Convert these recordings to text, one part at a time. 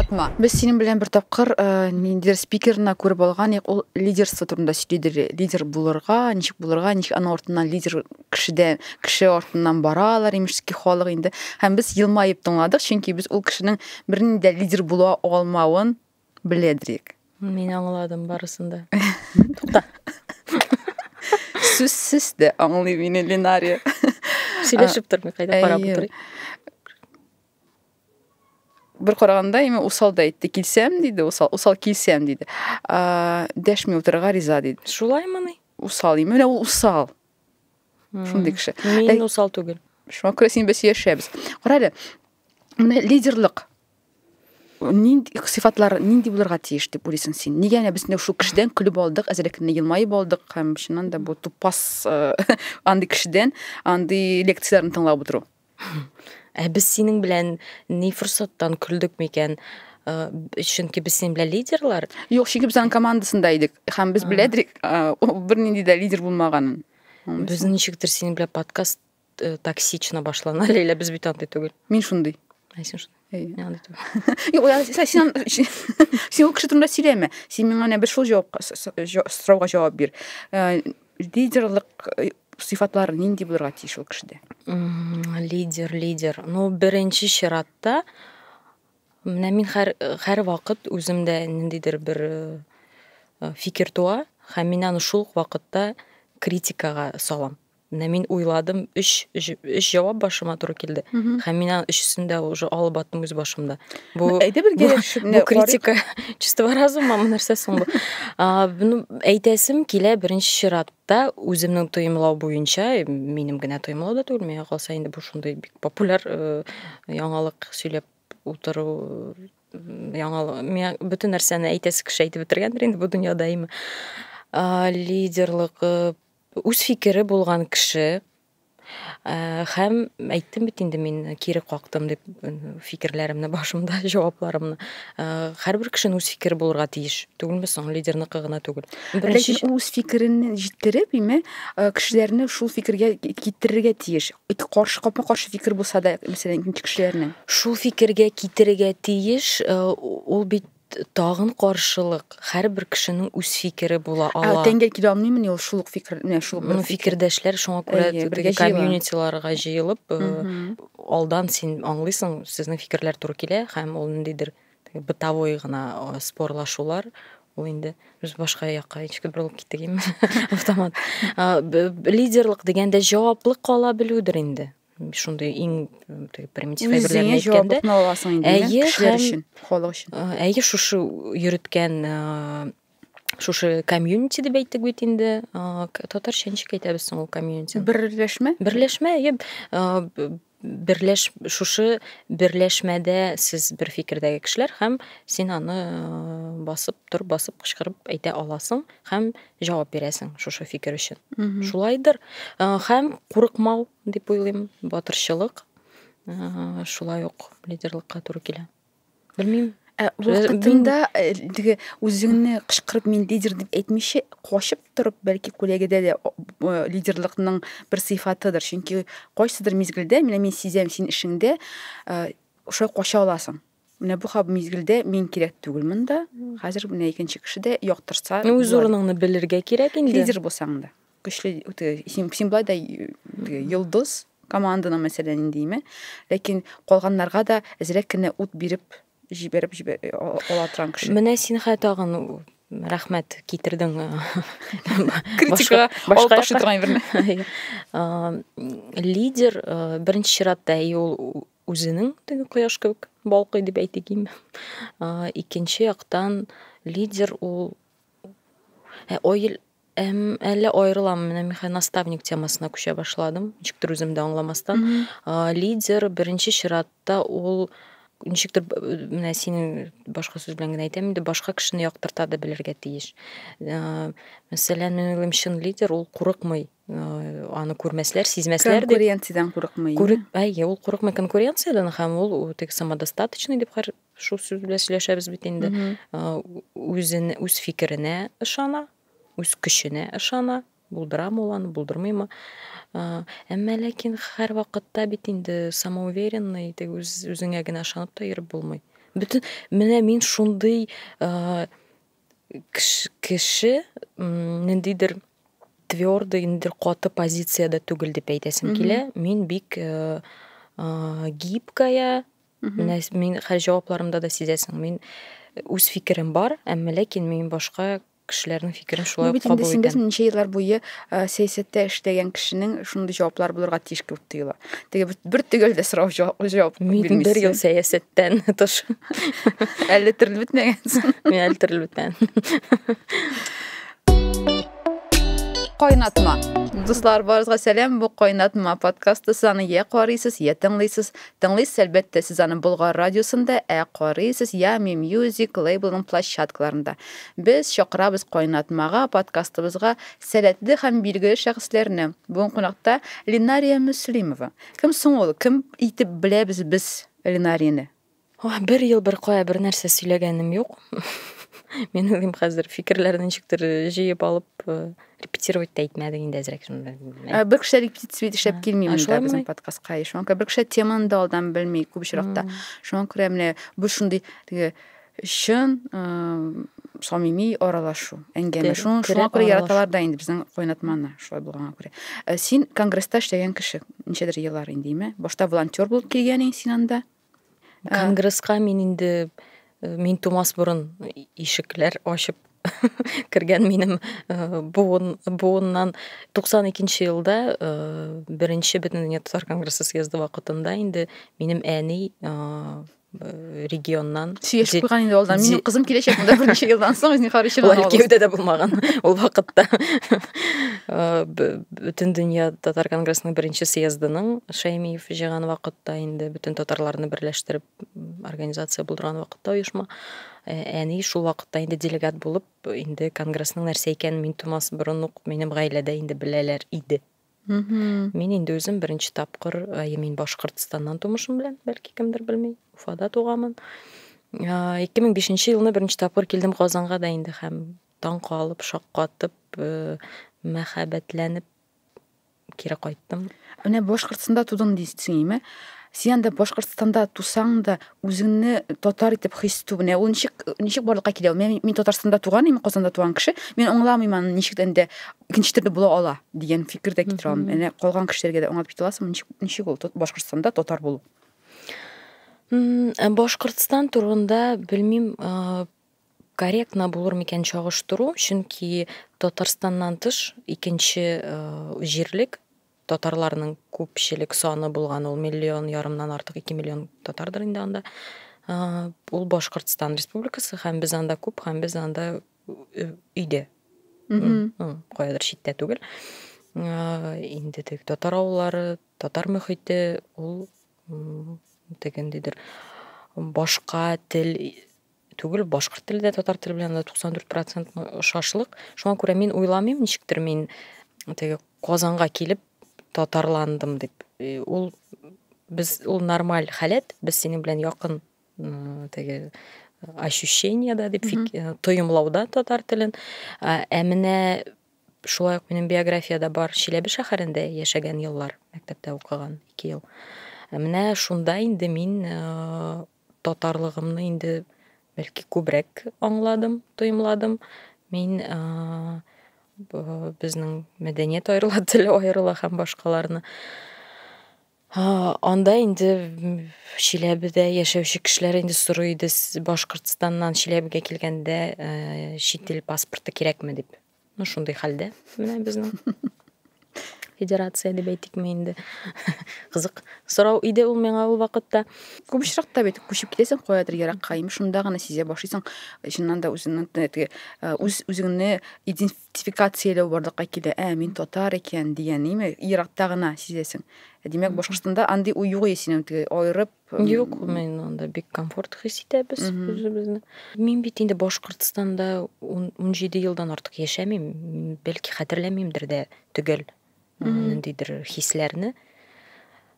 кайтма. Без синең белән бер тапкыр э, ниндидер спикерны күреп алган, ник ул лидерство турында сөйләде. Лидер булырга, ничек булырга, ничек аның артыннан лидер кешедә, кеше артыннан баралар, имешки халык инде. Һәм без елмаеп тыңладык, чөнки без ул кешенең бернинди лидер була алмавын Беледрик. Мин аңладым барысын да. Тукта. Сүзсез дә аңлый мине Линария. Сөйләшеп тормый, кайда карап утырый. Бер караганда именно усал да әйтте. Килсәм диде, усал, усал килсәм диде. Дәшми утырырга риза диде. Шулаймыни? Усал, именно ул усал. Шундый кеше. Мин усал түгел. Шуңа күрә син без яшәбез. Кара әле. Менә лидерлык нинди сыйфатлар нинди булырга тиеш дип уйлыйсың син нигә менә без менә шул кешедән көлеп алдык әзрәк кенә елмаеп алдык һәм чыннан да бу тупас э, андый кешедән андый лекцияләрне тыңлап утыру ә без синең белән ни форсаттан көлдек микән э, чөнки без синең белән лидерлар юк чөнки без аның командасында идек һәм без беләдек э, ул бернинди дә лидер булмаганын без ничектер синең белән подкаст э, токсично башлана ләйлә без бит андый түгел мин шундый ә син шундый сен сен ул кеше турында сөйләмә сен миңа менә бер шул җавапка сорауга җавап бир э, лидерлык э, сыйфатлары нинди булырга тиеш ул кешедә лидер лидер ну беренче чиратта менә мин һәр һәр вакыт үземдә ниндидер бер фикер туа һәм мин аны шул ук вакытта критикага салам Менә мин уйладым, өч, өч, өч җавап башыма туры килде. Һәм мин аның өчесен дә уже алып аттым үз башымда. Бу, Әйдә бер килешеп, бу критика чистого разума мы нәрсә соң бу? Буны әйтәсем килә беренче чиратта үземнең тоемлау буенча, минем генә тоемлау да түгел, миңа калса инде бу шундый бик популяр э, яңалык сөйләп утыру яңалык. Миңа бөтен нәрсәне әйтәсе кеше әйтеп бетергәндер инде бу дөньяда име. Лидерлык э, Үз фикере булган кеше һәм әйттем бит инде мин кире кактым дип фикерләремне башымда җавапларымны һәрбер кешенең үз фикере булырга тиеш түгелме соң лидерныкы гына түгел ләкин ул үз фикерен җиткереп име кешеләрне шул фикергә китерергә тиеш каршы капма каршы фикер булса да мәсәлән икенче кешеләрнең шул фикергә китерергә тиеш ул бит Тагын каршылык, һәрбер кешенең үз фикере була ала. Ә тәңгәл килә алмыймыни ул шул ук фикер, менә шул ук фикердәшләр, шуңа күрә теге комьюнитиларга җыелып, алдан син аңлыйсың, сезнең фикерләр туры килә, һәм ул ниндидер бытовой гына спорлашулар, ул инде без башка якка ничек борылып киттек инде автомат лидерлык дигәндә җаваплы кала белүдер инде шундай иң примитив әйберләрне әйткәндә әйе кешеләр өчен халык өчен әйе шушы йөреткән шушы комьюнити дип әйттек бит инде татарча ничек әйтәбез соң ул комьюнити берләшмә берләшмә әйе берләш шушы берләшмәдә сез бер фикердәге кешеләр һәм син аны басып тор басып кычкырып әйтә аласың һәм җавап бирәсең шушы фикер өчен. Шулайдыр. Һәм курыкмау дип уйлыйм, батырчылык шулай ук лидерлыкка туры килә. Белмим. Ә вакытында теге үзеңне кычкырып мин лидер дип әйтмичә, качып торып, бәлки күләгедә дә лидерлыкның бер сыйфатыдыр. Чөнки кайсыдыр мизгелдә, менә мин сизәм син эшеңдә, шулай кача аласың. Менә бу хаб мизгелдә мин кирәк түгел монда. Хәзер менә икенче кеше дә яктырса. Ну үз урыныңны белергә кирәк инде. Лидер булсаң да. Көчле үте син син болай да йолдыз команданың мәсәлән инде име. Ләкин калганнарга да әзрәк кенә ут биреп җибәреп җибәр ала торган кеше. Менә син хә тагын рәхмәт китердең критикага алып ташлый торган әйберне лидер беренче чиратта и ул үзенең теге кояш кебек балкый дип әйтик инде. Икенче яктан лидер ул ә, ойл әм, әллә аерыламы? Менә мехай наставник темасына күчә башладым. Ничектер үзем дә аңламастан. Лидер беренче чиратта ул ничектер менә синең башка сүз белән генә әйтәм инде, башка кешене яктырта да белергә тиеш. Мәсәлән, мин уйлыйм, чын лидер ул курыкмый Э, аны күрмәсләр, сизмәсләр дип. Конкуренциядән курыкмый. Күрек, әйе, ул курыкмый конкуренциядән һәм ул теге самодостаточный дип хәр шул сүз белән сөйләшәбез бит инде. Э, үзен үз фикеренә ышана, үз көченә ышана, булдырамы ул аны, булдырмыймы. Э, әмма ләкин һәр вакытта бит инде самоуверенный, теге үз үзеңә генә ышанып та йөреп булмый. Бөтен менә мин шундый кеше ниндидер твердый, ниндидер каты позициядә түгел дип әйтәсем килә. Мин бик э, гибкая, менә мин хәл җавапларымда да сизәсең. Мин үз фикерем бар, әмма ләкин мин башка кешеләрнең фикерен шулай ук кабул итәм. Без ничә еллар буе сәясәттә эшләгән кешенең шундый җаваплар булырга тиеш кебек тоела. Теге бер төгәл дә сорау җавап бирмисең. Бер ел сәясәттән тыш. Әле терелеп бетмәгәнсең. Мин әле терелеп бетмәдем. Кайнатма. Дуслар, барыгызга сәлам. Бу Кайнатма подкасты. Сез аны я карыйсыз, я тыңлыйсыз. Тыңлыйсыз, әлбәттә, сез аны Болгар радиосында, ә карыйсыз Ями Music лейблының площадкаларында. Без чакырабыз Кайнатмага, подкастыбызга Сәләтле һәм билгеле шәхесләрне. Бүген кунакта Линария Мөслимова. Кем соң ул? Кем итеп беләбез без Линарияне? Ох, бер ел беркая бернәрсә сөйләгәнем юк. Мин уйлыйм хәзер фикерләрне ничектер җыеп алып э, репетировать та итмәдек инде әзрәк. Ә, бер кеше репетиция итеп эшләп килми монда безнең подкастка. Шуңа күрә бер кеше теманы да алдан белми күп очракта. Шуңа күрә менә бу шундый теге чын самими аралашу әңгәмә шуңа күрә яраталар да инде безнең кайнатманы шулай булганга күрә э, син конгресста эшләгән кеше ничәдер еллар индеме башта волонтер булып килгән инде син анда э, конгресска мин инде э, мин тумас борын ишекләр ачып кергән минем буын буыннан 92 нче елда беренче бөтендөнья татар конгрессы съезды вакытында инде минем әни Э, регионнан сөйләшеп куйган инде алдан минем кызым киләчәк монда берничә елдан соң зинһар өчен алар кияүдә дә булмаган ул вакытта э, бөтен дөнья татар конгрессының беренче съездының шәймиев җыйган вакытта инде бөтен татарларны берләштереп организация булдырган вакытта оешма э, әни шул вакытта инде делегат булып инде конгрессның нәрсә икәнен мин тумас борын ук минем гаиләдә инде беләләр иде Мин инде үзем беренче тапкыр, әйе, мин Башкортстаннан тумышым белән, бәлки кемдер белми, Уфада туганмын. 2005 елны беренче тапкыр килдем Казанга да инде һәм таң калып, шаккатып, э, мәхәббәтләнеп кире кайттым. Менә Башкортстанда тудым дисеңме? Син анда Башкортстанда тусаң да, үзеңне татар итеп хис итү менә ул ничек ничек барлыкка килә мен мин татарстанда туган мин казанда туган кеше мин аңламыйм аны ничек инде икенче төрле була ала дигән фикер дә китерә алмыйм менә калган кешеләргә дә аңлатып китә аласыңмы ничек ничек ул башкортстанда татар булу э, башкортстан турында белмим э, корректно булыр микән чагыштыру чөнки татарстаннан тыш икенче э, җирлек Татарларның күпчелек саны булган ул миллион ярымнан артык, ике миллион татардыр инде анда. Ул Башкортстан республикасы һәм без анда күп һәм без анда өйдә. Каядыр читтә түгел. Инде теге татар авыллары, татар мөхите ул дигәндидер башка тел түгел, башкорт теле дә, татар теле белән дә 94 процент ошашлык. Шуңа күрә мин уйламыйм, ничектер мин теге Казанга килеп татарландым дип. Э, ул без ул нормаль халәт, без синең белән якын теге ощущение да дип фик, э, тоемлауда татар телен. Ә менә шулай ук минем биографиядә бар Чиләбе шәһәрендә яшәгән еллар, мәктәптә укыган 2 ел. Ә менә шунда инде мин э, татарлыгымны инде бәлки күбрәк аңладым, тоемладым. Мин безнең мәдәният аерыла, тел аерыла һәм башкаларны анда инде Чиләбедә яшәүче кешеләр инде сорый иде, Башкортстаннан Чиләбегә килгәндә, чит ил паспорты кирәкме дип. Ну, шундый хәлдә менә безнең федерация дип әйтикме инде. Кызык сорау иде ул миңа ул вакытта. Күп очракта бит күчеп китәсең каядыр еракка, ими шунда гына сизә башлыйсың, чыннан да үзеңнең теге үз үзеңне идентификацияләү барлыкка килә. Ә, мин татар икән дигән, ими еракта гына сизәсең. Димәк, Башкортстанда андый уй юк ие синең теге аерып Юк, мен анда бик комфорт хис итәбез үзебезне. Мин бит инде Башкортстанда 17 елдан артык яшәмим, бәлки хәтерләмимдер дә төгәл ниндидер хисләрне.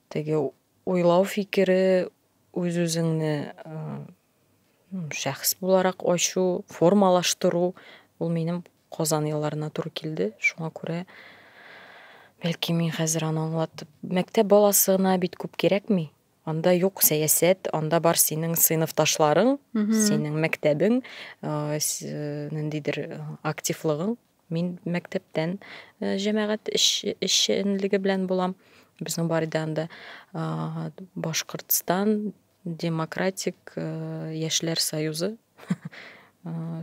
Теге уйлау фикере үз-үзеңне Шәхес буларак ачу, формалаштыру ул минем Казан елларына туры килде. Шуңа күрә бәлки мин хәзер аны аңлатып, мәктәп баласы гына бит күп кирәкми. Анда юк сәясәт, анда бар синең сыйныфташларың, синең мәктәбең, ниндидер активлыгың. Мин мәктәптән җәмәгать эшчәнлеге белән булам. Безнең бар иде анда Башкортстан Демократик яшьләр союзы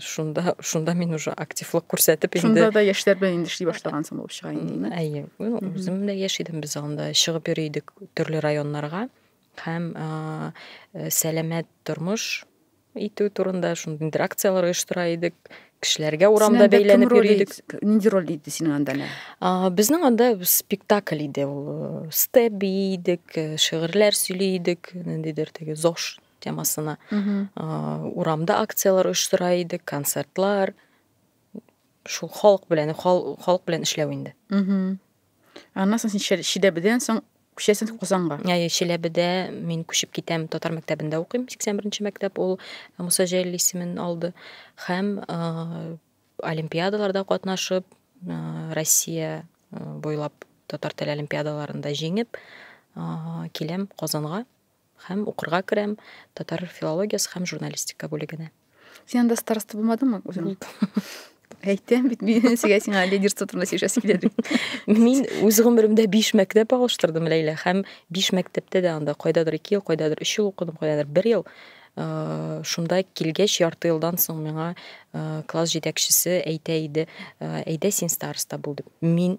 шунда шунда мин уже активлык күрсәтеп инде шунда да яшьләр белән инде эшли башлагансың булып чыга инде ме әйе үзем дә яшь идем без анда чыгып йөри идек төрле районнарга һәм сәламәт тормыш итү турында шундый инде акцияләр оештыра идек кешеләргә урамда бәйләнеп йөри идек нинди роль иде синең анда не безнең анда спектакль иде ул э, степ бии идек э, шигырьләр сөйли идек ниндидер теге зош темасына урамда акцияләр оештыра идек концертлар шул халык белән халык белән эшләү инде Аннан соң син Чиләбедән соң күчәсең Казанга. Әйе, Чиләбедә мин күчеп китәм, татар мәктәбендә укыйм. 81-нче мәктәп ул э, Муса Җәлил исемен алды һәм э, олимпиадаларда катнашып, э, Россия буйлап татар теле олимпиадаларында җиңеп, киләм Казанга. Һәм укырга керәм татар филологиясе һәм журналистика бүлегенә. Син анда староста булмадыңмы үзең? Әйтәм бит, мин сиңа сиңа лидерство турында сөйләшәсе килә дип. Мин үз гомеремдә 5 мәктәп алыштырдым Ләйлә һәм 5 мәктәптә дә анда кайдадыр 2 ел, кайдадыр 3 ел укыдым, кайдадыр 1 ел. Э, шунда килгәч ярты елдан соң миңа э, класс җитәкчесе әйтә иде, э, әйдә син староста бул дип. Мин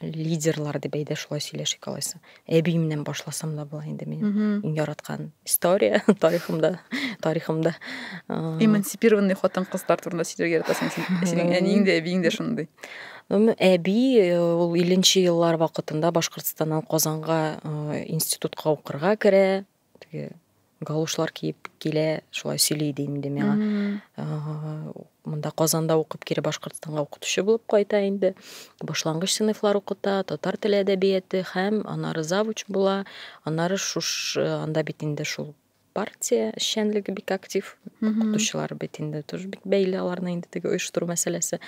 лидерлар дип әйдә шулай сөйләшик алайса әбиемнән башласам да була инде минем иң яраткан история тарихымда тарихымда эмансипированный хатын кызлар турында сөйләргә яратасың син синең әниең дә әбиең дә шундый әби э, ул илленче еллар вакытында башкортстаннан казанга э, институтка укырга керә теге галушлар киеп килә, шулай сөйли иде инде миңа. Монда Казанда укып кире Башкортстанга укытучы булып кайта инде. Башлангыч сыйныфлар укыта, татар теле әдәбияты һәм анары завуч була. Анары шуш анда бит инде шул партия эшчәнлеге бик актив. Укытучылар бит инде тоже бик бәйле аларны инде теге оештыру мәсьәләсе.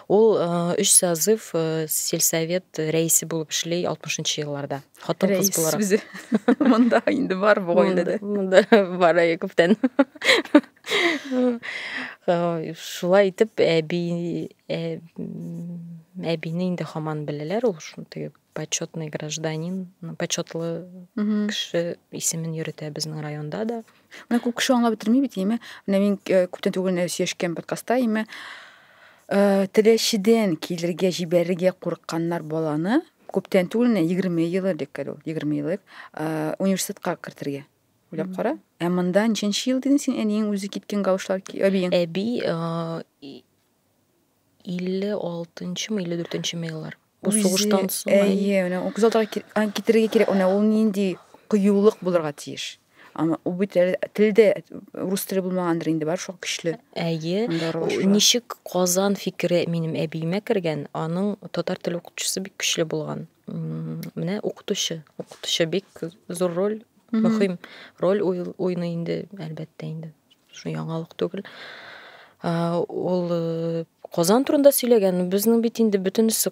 Ул 3 созыв сельсовет рәисе булып эшли 60 елларда. хатын кыз буларак үзе монда инде бар бу гаиләдә монда бар әйе күптән шулай итеп әби әбине инде хаман беләләр ул шундый почетный гражданин почетлы кеше исемен йөртә безнең районда да менә күп кеше аңлап бетерми бит име менә мин э, күптән түгел сөйләшкән подкастта име э, теләчедән килергә җибәрергә курыкканнар баланы Күптән түгел, 20 ел элек әле ул, 20 ел элек университетка кертергә уйлап кара. Ә монда ничәнче ел дидең син әниең үзе киткән гаушлар әбиең? Әби 56-нчымы, 54-нчеме еллар. Бу сугыштан соң. Әйе, менә 36-га китерергә кирәк. Менә ул нинди кыюлык булырга тиеш. Аны ул бит әле телдә рус теле булмагандыр инде, бар шул көчле. Әйе. Ничек Казан фикере минем әбиемә кергән, аның татар теле укытучысы бик көчле булган. Менә укытучы, укытучы бик зур роль, мөһим роль уйный инде, әлбәттә инде. Шул яңалык түгел. Ул э, Казан турында сөйләгән, безнең бит инде бөтенесе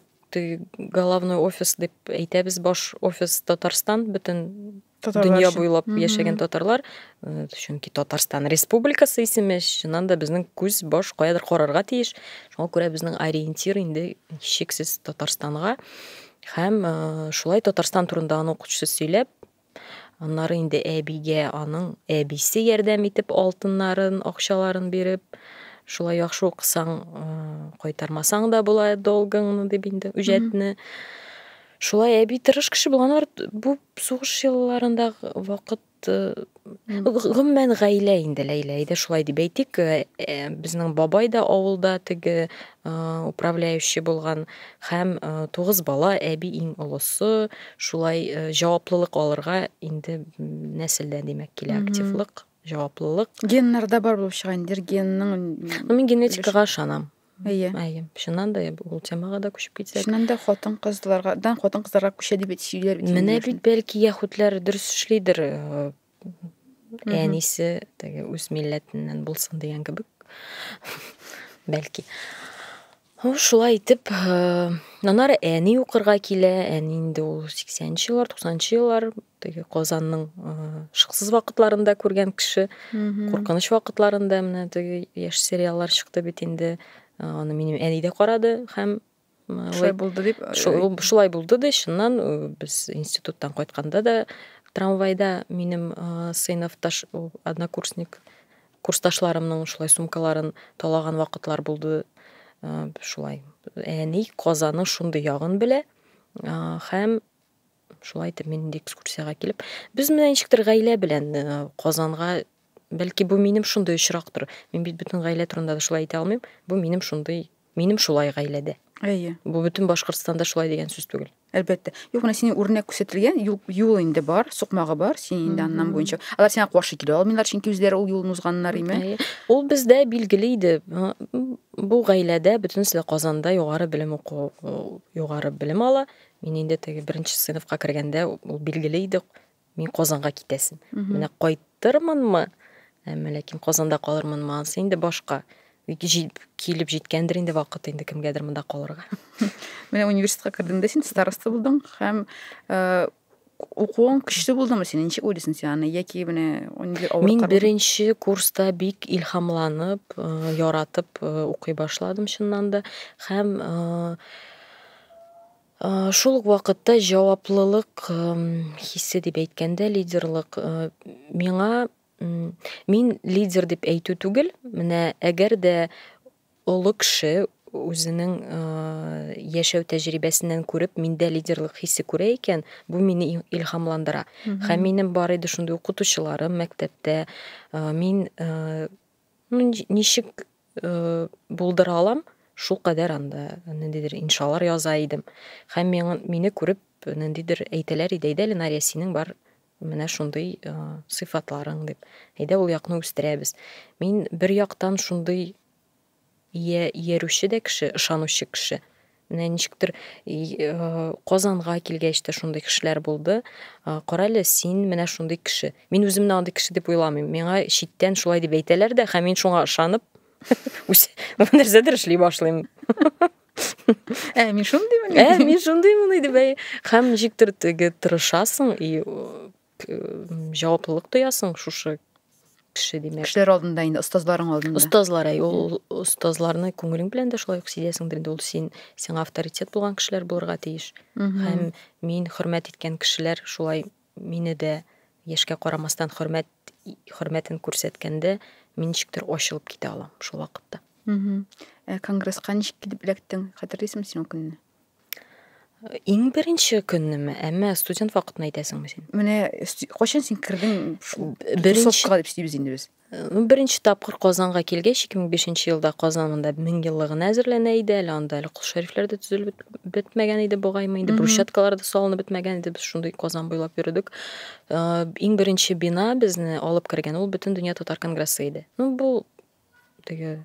головной офис дип әйтәбез, баш офис Татарстан, бөтен татарлар дөнья өчен. буйлап mm -hmm. яшәгән татарлар э, чөнки татарстан республикасы исеме чыннан да безнең күз баш каядыр карарга тиеш шуңа күрә безнең ориентир инде чиксез татарстанга һәм э, шулай татарстан турында аның укытучысы сөйләп аннары инде әбигә аның әбисе ярдәм итеп алтыннарын акчаларын биреп шулай яхшы укысаң э, кайтармасаң да була долгыңны дип инде үҗәтне шулай әби тырыш кеше булганнар бу Сугыш елларында вакыт гомумән гаилә инде Ләйлә иде шулай дип әйтик. Э, э, безнең бабай да авылда теге управляющий булган һәм тугыз бала, әби иң олысы. Шулай җаваплылык алырга инде нәселдән димәк килә активлык, җаваплылык. Геннарда бар булып чыга инде генның. Ну мин генетикага ышанам. Әйе. Әйе. Чыннан да ул темага да күчеп китсәк. Чыннан да хатын-кызлардан хатын-кызларга күчә дип сөйләр бит. Менә бит бәлки яхутлар дөрес эшлидер. Э, әнисе теге үз милләтеннән булсын дигән кебек. Бәлки. Ул шулай итеп, э, аннары әни укырга килә. Әни инде ул 80 нчы еллар, 90 нчы еллар теге казанның шыксыз вакытларында күргән кеше куркыныч вакытларында менә теге яшь сериаллар чыкты бит инде аны минем әни дә карады һәм шулай булды дип шулай булды ди чыннан без институттан кайтканда да трамвайда минем сыйныфташ однокурсник курсташларымның шулай сумкаларын талаган вакытлар булды шулай әни казаның шундый ягын белә һәм Шулай итеп мин инде экскурсиягә килеп, без менә ничектер гаилә белән э, Казанга бәлки бу минем шундый очрактыр. Мин бит бөтен гаилә турында да шулай әйтә алмыйм. Бу минем шундый, минем шулай гаиләдә. Әйе. Бу бөтен Башкортстанда шулай дигән сүз түгел. Әлбәттә. Юк, менә сине үрнәк күрсәтелгән, юл, юл инде бар, сукмагы бар, син инде аннан буенча. Алар сиңа каршы килә алмыйлар, чөнки үзләре ул юлны узганнар име. Әйе. Ул бездә билгеле иде. М, Бу гаиләдә бөтенесе дә Казанда югары белем уку, югары белем ала. Мин инде теге беренче сыйныфка кергәндә ул билгеле иде, мин Казанга китәсем. Менә кайтырмынмы, әмма ләкин Казанда калырмынмы, ансы инде башка. Килеп җиткәндер инде вакыт инде кемгәдер монда калырга. Менә университетка кердең дә син староста булдың һәм э, Укуың көчле булдымы синең? Ничек уйлыйсың син аны? Яки менә нинди авыр Мин беренче курста бик илһамланып, э, яратып э, укый башладым чыннан да һәм э, шул ук вакытта җаваплылык хисе дип әйткәндә лидерлык миңа мин лидер дип әйтү түгел менә әгәр дә Олы кеше үзенең яшәү тәҗрибәсеннән күреп, миндә лидерлык хисе күрә икән, бу мине илһамландыра. Һәм минем бар иде шундый укытучыларым мәктәптә. Мин ну, ничек булдыра алам, шул кадәр анда ниндидер иншалар яза идем. Һәм мине күреп, ниндидер әйтәләр иде, әйдә, Ленария, синең бар менә шундый э, сыйфатларың дип әйдә ул якны үстерәбез мин бер яктан шундый иярүче дә кеше ышанучы кеше менә ничектер э, казанга килгәч тә шундый кешеләр булды э, карале син менә шундый кеше мин үземне андый кеше дип уйламыйм миңа читтән шулай дип әйтәләр дә һәм мин шуңа ышанып нәрсәдер эшли башлыйм ә мин шундыймын ә мин шундыймын иде бәй һәм ничектер теге тырышасың и җаваплылык тоясың шушы кеше димәк кешеләр алдында инде остазларың алдында остазлар әй ул остазларны күңелең белән дә шулай ук сизәсеңдер инде ул син сиңа авторитет булган кешеләр булырга тиеш һәм мин хөрмәт иткән кешеләр шулай Мине дә, яшькә карамастан, хөрмәт хөрмәтен күрсәткәндә, мин ничектер ачылып китә алам шул вакытта. Ә конгресска ничек килеп эләктең? Хәтерлисеңме син ул көнне? Иң беренче көннеме, әмма студент вакытны әйтәсеңме син? Менә кайчан син кердең шул беренче дип сөйлибез инде без. Беренче тапкыр Казанга килгәч, 2005 елда Казан монда мең еллыгына әзерләнә иде. Әле анда әле кол шәрифләр дә төзелеп бетмәгән иде бугаймы инде. Брусчаткалар да салынып бетмәгән иде. Без шундый Казан буйлап йөрдек. Иң беренче бина безне алып кергән ул бөтен дөнья татар конгрессы иде. Ну бу теге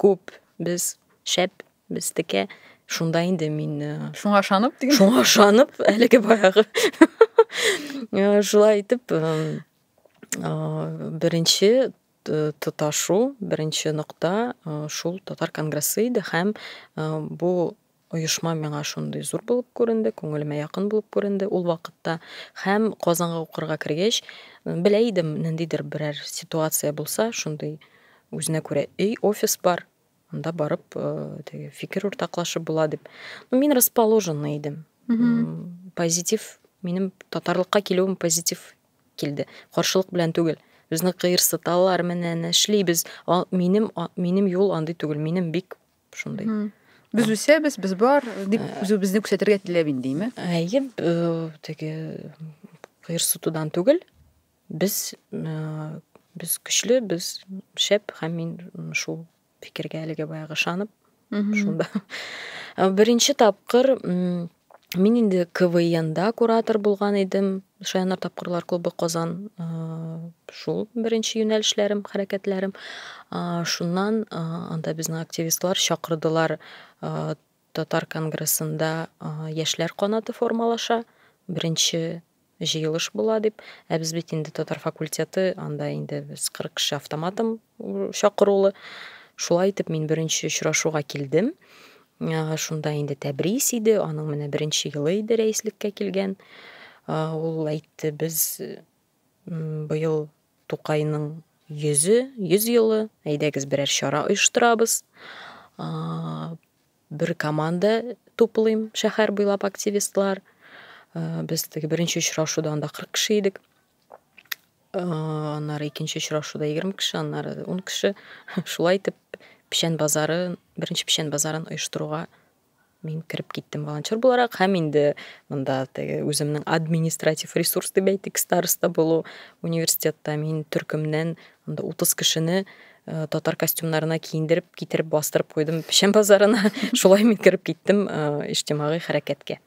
Күп, без, шәп, без текә. Шунда инде мин... Э, шуңа шанып диген. Шуңа шанып, әлеге баягы. Э, шулай итеп, э, беренче тоташу, беренче нокта шул татар конгрессы иде, хәм бу Оешма миңа шундый зур булып күренде, күңелемә якын булып күренде ул вакытта һәм Казанга укырга кергәч, белә идем, ниндидер берәр ситуация булса, шундый үзенә күрә өй, офис бар, анда барып, теге фикер уртаклашып була дип. Ну, мин расположенный идем. Позитив, минем татарлыкка килүем позитив килде. Каршылык белән түгел. Безне кыерсыталар, менә нәшлибез. Минем минем юл андый түгел. Минем бик шундый без үсәбез без бар дип үзебезне күрсәтергә теләп индеме әйе теге кыерсытудан түгел без без көчле без шәп һәм мин шул фикергә әлегә баягы ышанып шунда беренче тапкыр Мин инде КВНда куратор булган идем. Шаяннар тапкырлар клубы Казан шул беренче юнәлешләрем, хәрәкәтләрем. Шуннан анда безне активистлар чакырдылар. Татар конгрессында яшьләр канаты формалаша. Беренче җыелыш була дип, ә без бит инде татар факультеты, анда инде без 40 кеше автоматом чакырулы. Шулай итеп мин беренче очрашуга килдем. Шунда инде Тәбрис иде, аның менә беренче елы иде рәислеккә килгән. Ул әйтте, без быел Тукайның йөзе, йөз елы, әйдәгез берәр чара оештырабыз. Бер команда туплыйм, шәһәр буйлап активистлар. Без теге беренче очрашуда анда 40 кеше идек. Аннары икенче очрашуда 20 кеше, аннары 10 кеше. Шулай итеп, печән базары, беренче печән базарын оештыруга мин кереп киттем волонтер буларак һәм инде монда теге үземнең административ ресурс дип әйтик староста булу университетта мин төркемнән Анда 30 кешене э, татар костюмнарына киендереп, китереп бастырып куйдым печән базарына. Шулай мин кереп киттем э, иҗтимагый хәрәкәткә.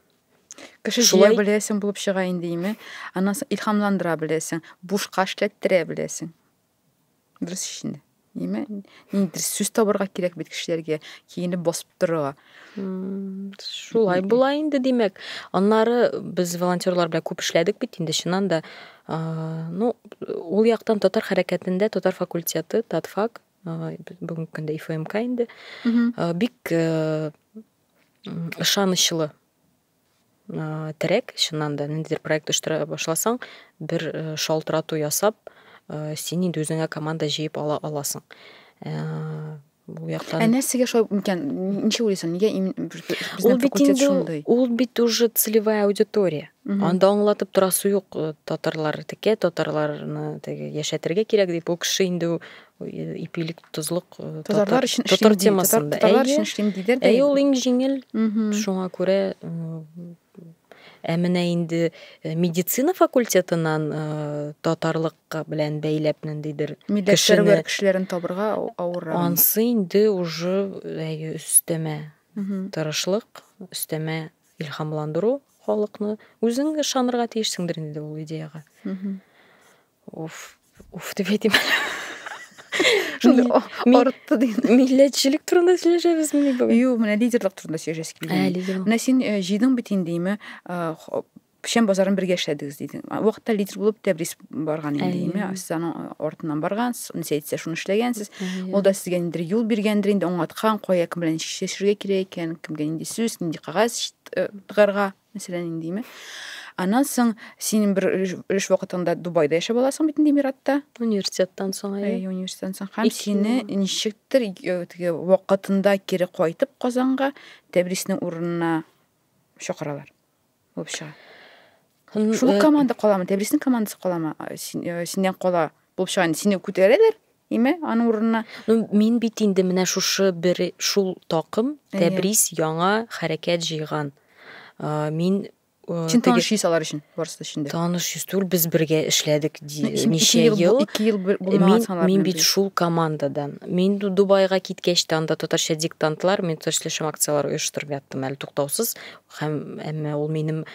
Кеше Шулай... беләсең булып чыга инде име? Аннан соң илһамландыра беләсең, бушка эшләттерә беләсең. Дөрес шикелле. Ниме? Ниндидер сүз табарга кирәк бит кешеләргә, киенеп басып торырга. Шулай була инде, димәк. Аннары без волонтерлар белән күп эшләдек бит инде, чыннан да. Ну, ул яктан татар хәрәкәтендә татар факультеты, татфак, бүгенге көндә ИФМК инде, бик ышанычлы терәк чыннан да ниндидер проект оештыра башласаң бер шалтырату ясап син инде үзеңә команда җыеп ала аласың бу яктан ә нәрсәгә шулай микән ничек уйлыйсың нигә ул бит инде ул бит уже целевая аудитория анда аңлатып торасы юк татарлар текә татарларны теге яшәтергә кирәк дип ул кеше инде ипилек тозлык татарлар өчен татар темасында татарлар өчен эшлим диде әйе ул иң җиңел шуңа күрә ә менә инде медицина факультетыннан татарлык белән бәйләп ниндидер кешене кешеләрен табырга авыр ансы инде уже әйе өстәмә тырышлык өстәмә илһамландыру халыкны үзең ышанырга тиешсеңдер инде ул идеяга Уф, уф дип әйтим. Шундый арытты ди. Милләтчелек турында сөйләшәбез мени бүген? Юк, менә лидерлык турында сөйләшәсе килде. Ә, лидерлык. Менә син э, җыйдың бит инде, име? Э, печән базарын бергә эшләдегез диде. Вакытта лидер булып Тәбрис барган инде, име? Сез аның артыннан баргансыз, нәрсә әйтсә, шуны эшләгәнсез. Ул да сезгә инде юл биргәндер, инде аңлаткан, кая кем белән эшләшергә кирәк икән, кемгә нинди сүз, нинди кагаз э, тыгарга. Мәсәлән, ниндиме? Аннан соң синең бер өлеш вакытыңда Дубайда яшәп аласың бит инде Эмиратта. Университеттан соң, әйе. Әйе, университеттан соң. Һәм сине ничектер теге вакытында кире кайтып Казанга Тәбриснең урынына чакыралар. Булып чыга. Шул команда каламы? Тәбриснең командасы каламы? Синнән кала булып инде сине күтәрәләр име аның урынына ну мин бит инде менә шушы бер шул такым тәбрис яңа хәрәкәт җыйган мин Син таныш йөз алар өчен барысы өчен дә. Таныш йөз түгел, без бергә эшләдек ничә ел. Ике ел булмаган саналар. Мин бит шул командадан. Мин Дубайга киткәч тә анда татарча диктантлар, мин татарча эшләшәм акцияләр оештырып яттым әле туктаусыз. Һәм әмма ул минем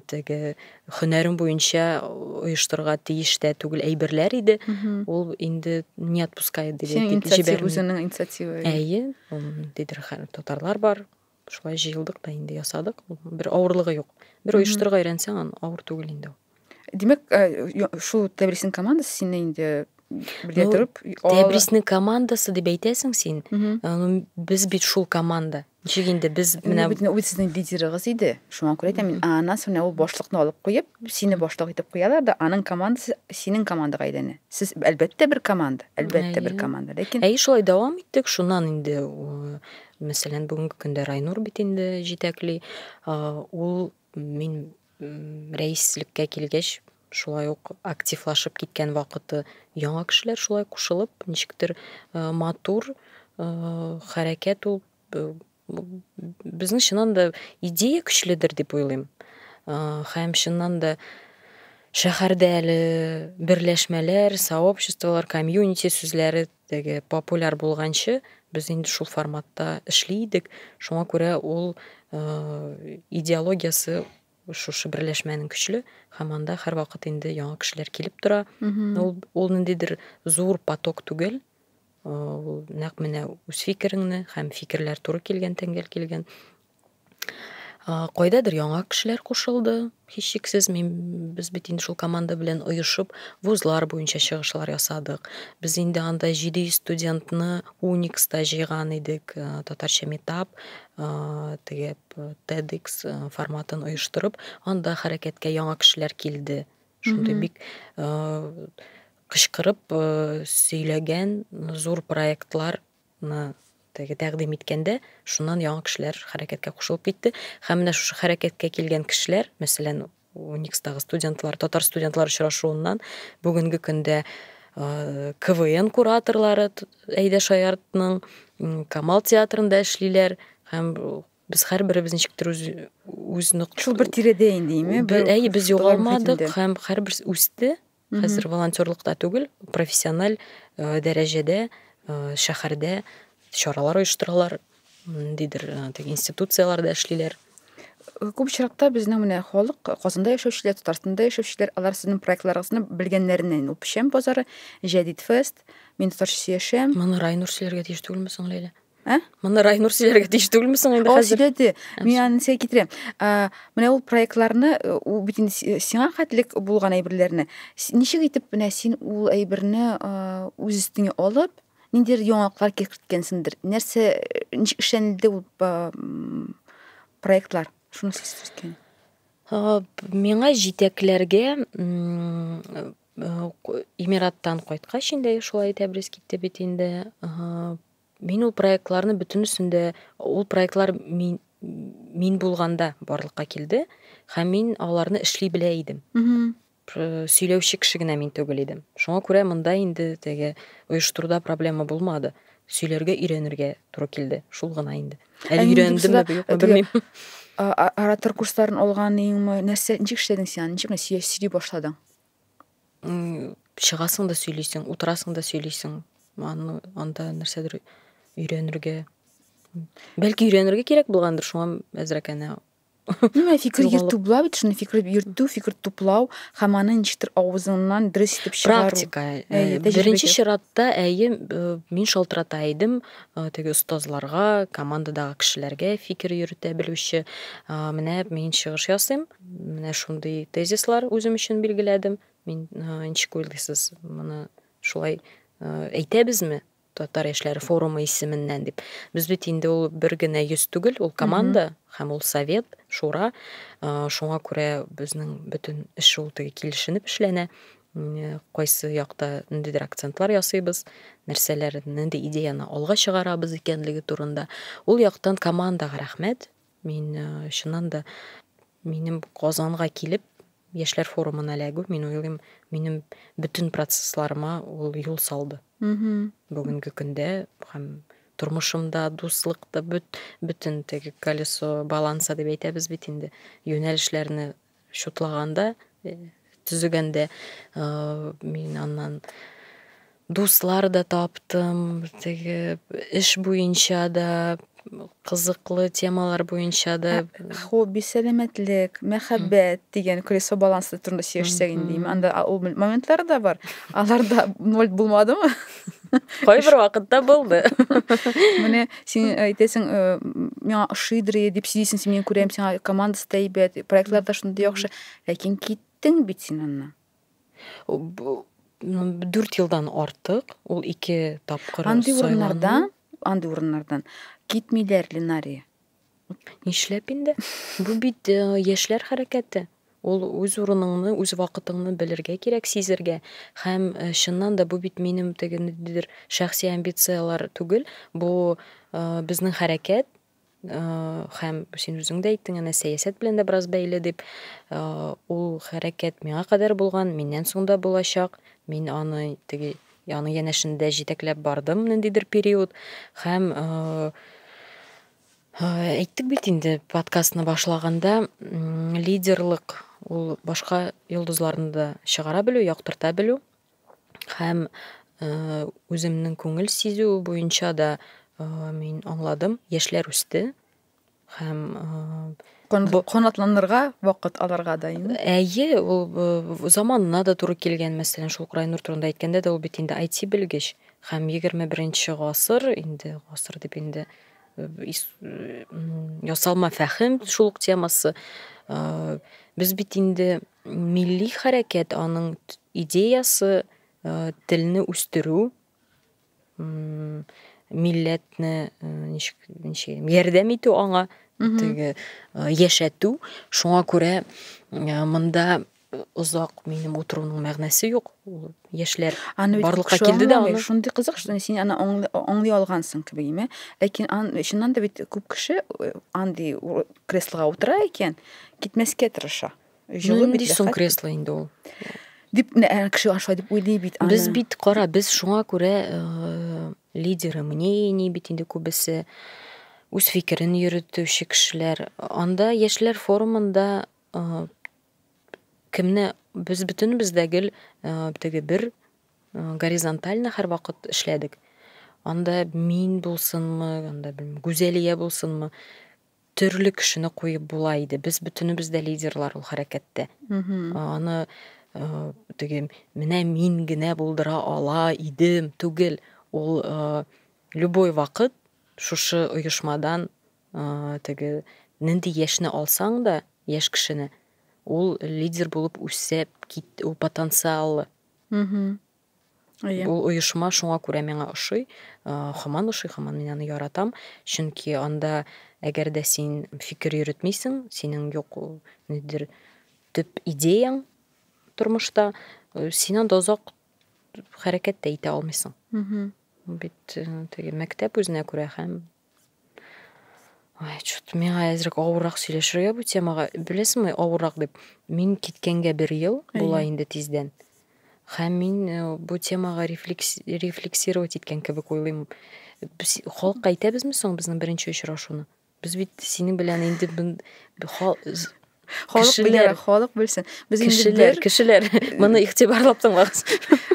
теге хөнәрем буенча оештырырга тиеш тә түгел әйберләр иде. Ул инде не отпускает диде. Синең инициатива үзенең инициатива. Әйе, ул дидер татарлар бар. Шулай җыелдык та инде ясадык. Бер авырлыгы юк. Бер оештырырга өйрәнсәң, аны авыр түгел инде. Димәк, шул Тәбрисинең командасы сине инде белә торып, Тәбрисинең командасы дип әйтәсең син. Без бит шул команда. Ничек инде без менә бит ул сезнең лидерыгыз иде. Шуңа күрә әйтәм мин, аннан соң ул башлыкны алып куеп, сине башлык итеп куялар да, аның командасы синең командага әйләнә. Сез әлбәттә бер команда, әлбәттә бер команда, ләкин Әй шулай дәвам иттек, шуннан инде мәсәлән, бүгенге көндә Райнур бит инде җитәкли. Ул мин Рәислеккә килгәч, шулай ук активлашып киткән вакыты яңа кешеләр шулай кушылып, ничектер матур хәрәкәт ул. Безнең чыннан да идея көчледер дип уйлыйм. Хәм чыннан да шәһәрдә әле берләшмәләр, сообществолар, комьюнити сүзләре Теге популяр булганчы, без инде шул форматта эшли идек. Шуңа күрә ул идеологиясе шушы берләшмәнең көчле һәм анда һәрвакыт инде яңа кешеләр килеп тора. Ул ул ниндидер зур поток түгел. Ул нәкъ менә үз фикереңне һәм фикерләр туры килгән, тәңгәл килгән Кайдадыр яңа кешеләр кушылды, һичшиксез. Мин без бит инде шул команда белән оешып, вузлар буенча чыгышлар ясадык. Без инде анда 700 студентны Уникста җыйган идек, э, татарча метап, э, теге TEDx э, форматын оештырып, анда хәрәкәткә яңа кешеләр килде. Шундый бик э, кычкырып э, сөйләгән зур проектлар Ны теге тәкъдим иткәндә, шуннан яңа кешеләр хәрәкәткә кушылып китте. Һәм менә шушы хәрәкәткә килгән кешеләр, мәсәлән, УНИКСтагы студентлар, татар студентлар очрашуыннан бүгенге көндә КВН кураторлары Әйдә Шаяртның Камал театрында эшлиләр һәм без һәрберебез ничектер үз үз нокт шул бер тирәдә инде име әйе без югалмадык һәм һәрберсе үсте Хәзер волонтерлыкта түгел, профессиональ э, дәрәҗәдә э, шәһәрдә чаралар оештыралар, ниндидер э, теге институцияләрдә эшлиләр. Күп очракта безнең менә халык, Казанда яшәүчеләр, Татарстанда яшәүчеләр, алар сезнең проектларыгызны белгәннәреннән үк. Печән базары, Җәдид фест, Мин татарча сөяшәм. Моны райнур сөйләргә тиеш түгелме соң, Ләйлә? Ә? Моны Райнур сөйләргә тиеш түгелме соң инде хәзер? О, сөйләде. Мин аны сәй китерәм. Менә ул проектларны, э, ул бит инде сиңа хәтлек булган әйберләрне. Ничек итеп менә син ул әйберне үз өстеңә алып, ниндидер яңалыклар китерткәнсеңдер. Нәрсә э, ничек эшләнде ул проектлар? Шуны сөйләсәң. Миңа җитәкләргә Эмираттан кайткач инде шулай итәбез китте бит инде. Мин ул проектларны бөтенесен дә, ул проектлар мин, мин булганда барлыкка килде, һәм мин аларны эшли белә идем. Сөйләүче кеше генә мин түгел идем. Шуңа күрә монда инде теге оештыруда проблема булмады. Сөйләргә өйрәнергә туры килде. Шул гына инде. Әле өйрәндем дә юкмы белмим. Оратор курсларын алган иңме, нәрсә, ничек эшләдең син? Ничек сөйли башладың? чыгасың да сөйлисең, утырасың да сөйлисең. Аны анда нәрсәдер өйрәнергә. Бәлки өйрәнергә кирәк булгандыр, шуңа әзрәк әнә Менә фикер йөртүләр бит, шуны фикер йөртү, фикер туплау һәм аны ничектер авызыңнан дөрес итеп чыгару. Практика. Э, беренче чиратта әйе, э, мин шалтырата идем э, теге остазларга, командадагы кешеләргә фикер йөртә белүче. Менә мин чыгыш ясыйм, Менә шундый тезислар үзем өчен билгеләдем. Мин ничек уйлыйсыз, моны шулай әйтәбезме? татар яшьләре форумы исеменнән дип без бит инде ул бер генә йөз түгел ул команда һәм ул совет шура шуңа күрә безнең бөтен эш ул теге килешенеп эшләнә кайсы якта ниндидер акцентлар ясыйбыз нәрсәләр нинди идеяны алга чыгарабыз икәнлеге турында ул яктан командаға рәхмәт Мин чыннан да минем Казанга килеп яшьләр форумына эләгү, мин уйлыйм, минем бөтен процессларыма ул юл салды. Бүгенге көндә һәм тормышымда, дуслыкта бөт, бөтен теге колесо баланса дип әйтәбез бит инде, юнәлешләрне Чутлаганда, төзегәндә мин аннан дуслар да таптым, теге эш буенча да кызыклы темалар буенча да хобби сәламәтлек мәхәббәт дигән колесо балансы турында сөйләшсәк инде анда ул моментлар да бар аларда ноль булмадымы Кайбер вакытта булды. Менә син әйтәсең, э, миңа ошыйдыр иде дип сөйлисең, син мин күрәм, сиңа командасы да әйбәт, проектлар да шундый яхшы. Ләкин киттең бит син аннан. Дүрт елдан артык, ул ике тапкыр Андый урыннардан, андый урыннардан китмиләр Ленария. Нишләп инде? Бу бит э, яшьләр хәрәкәте. Ул үз урыныңны, үз вакытыңны белергә кирәк, сизергә. Һәм э, чыннан да бу бит минем теге ниндидер шәхси амбицияләр түгел, бу э, безнең хәрәкәт э, һәм син үзең дә әйттең, әнә сәясәт белән дә бераз бәйле дип. Э, Ул хәрәкәт миңа кадәр булган, миннән соң да булачак. Мин аны теге Яны янәшендә җитәкләп бардым ниндидер период һәм әйттек бит инде подкастны башлаганда лидерлык ул башка йолдызларны да чыгара белү яктырта белү һәм үземнең күңел сизү буенча да мин аңладым яшьләр үсте һәм канатланырга вакыт алырга да инде әйе ул заманына да туры килгән мәсәлән шул крайнур турында әйткәндә дә ул бит инде айти белгеч һәм егерме беренче гасыр инде гасыр дип инде ясалма фәһем шул ук темасы без бит инде милли хәрәкәт аның идеясы телне үстерү милләтне ничек ничек ярдәм итү аңа теге яшәтү шуңа күрә монда озак минем утыруның мәгънәсе юк ул яшьләр барлыкка килде дә аны шундый кызык что син аны аңлый алгансың кебек име ләкин чыннан да бит күп кеше андый креслога утыра икән китмәскә тырыша Җылы бит. Нинди соң кресло инде ул? Дип ә, кеше аша дип уйлый бит аны. Без бит кара, без шуңа күрә э, лидеры мнений бит инде күбесе үз фикерен йөрөтүче кешеләр. Анда яшьләр форумында э, кемне без бөтенебез дә гел э, теге бер э, горизонтально һәрвакыт эшләдек. Анда мин булсынмы, анда белмим, Гүзәлия булсынмы, төрле кешене куеп була иде. Без бөтенебез дә лидерлар ул хәрәкәттә. Аны теге менә мин генә булдыра ала идем түгел. Ул любой вакыт шушы оешмадан теге нинди яшьне алсаң да, яшь кешене, ул лидер булып үсеп кит, ул потенциалы. Әйе. Ул оешма шуңа күрә миңа ошый, хаман ошый, хаман мин аны яратам, чөнки анда әгәр дә син фикер йөрөтмисең, синең юк ул нидер төп идеяң тормышта, син анда озак хәрәкәт тә итә алмыйсың. Бит теге мәктәп үзенә күрә һәм Ай, чут, миңа әзрәк авыррак сөйләшергә бу темага. Беләсеңме, авыррак дип. Мин киткәнгә бер ел була инде тиздән. Һәм мин э, бу темага рефлекс, рефлексировать иткән кебек уйлыйм. Без халыкка әйтәбезме соң безнең беренче очрашуны? Без бит синең белән инде бен- хал- з- Халык Кешеләр. белер, халык белсен. Без инде кешеләр, бер кешеләр, моны игътибарлап тыңлагыз.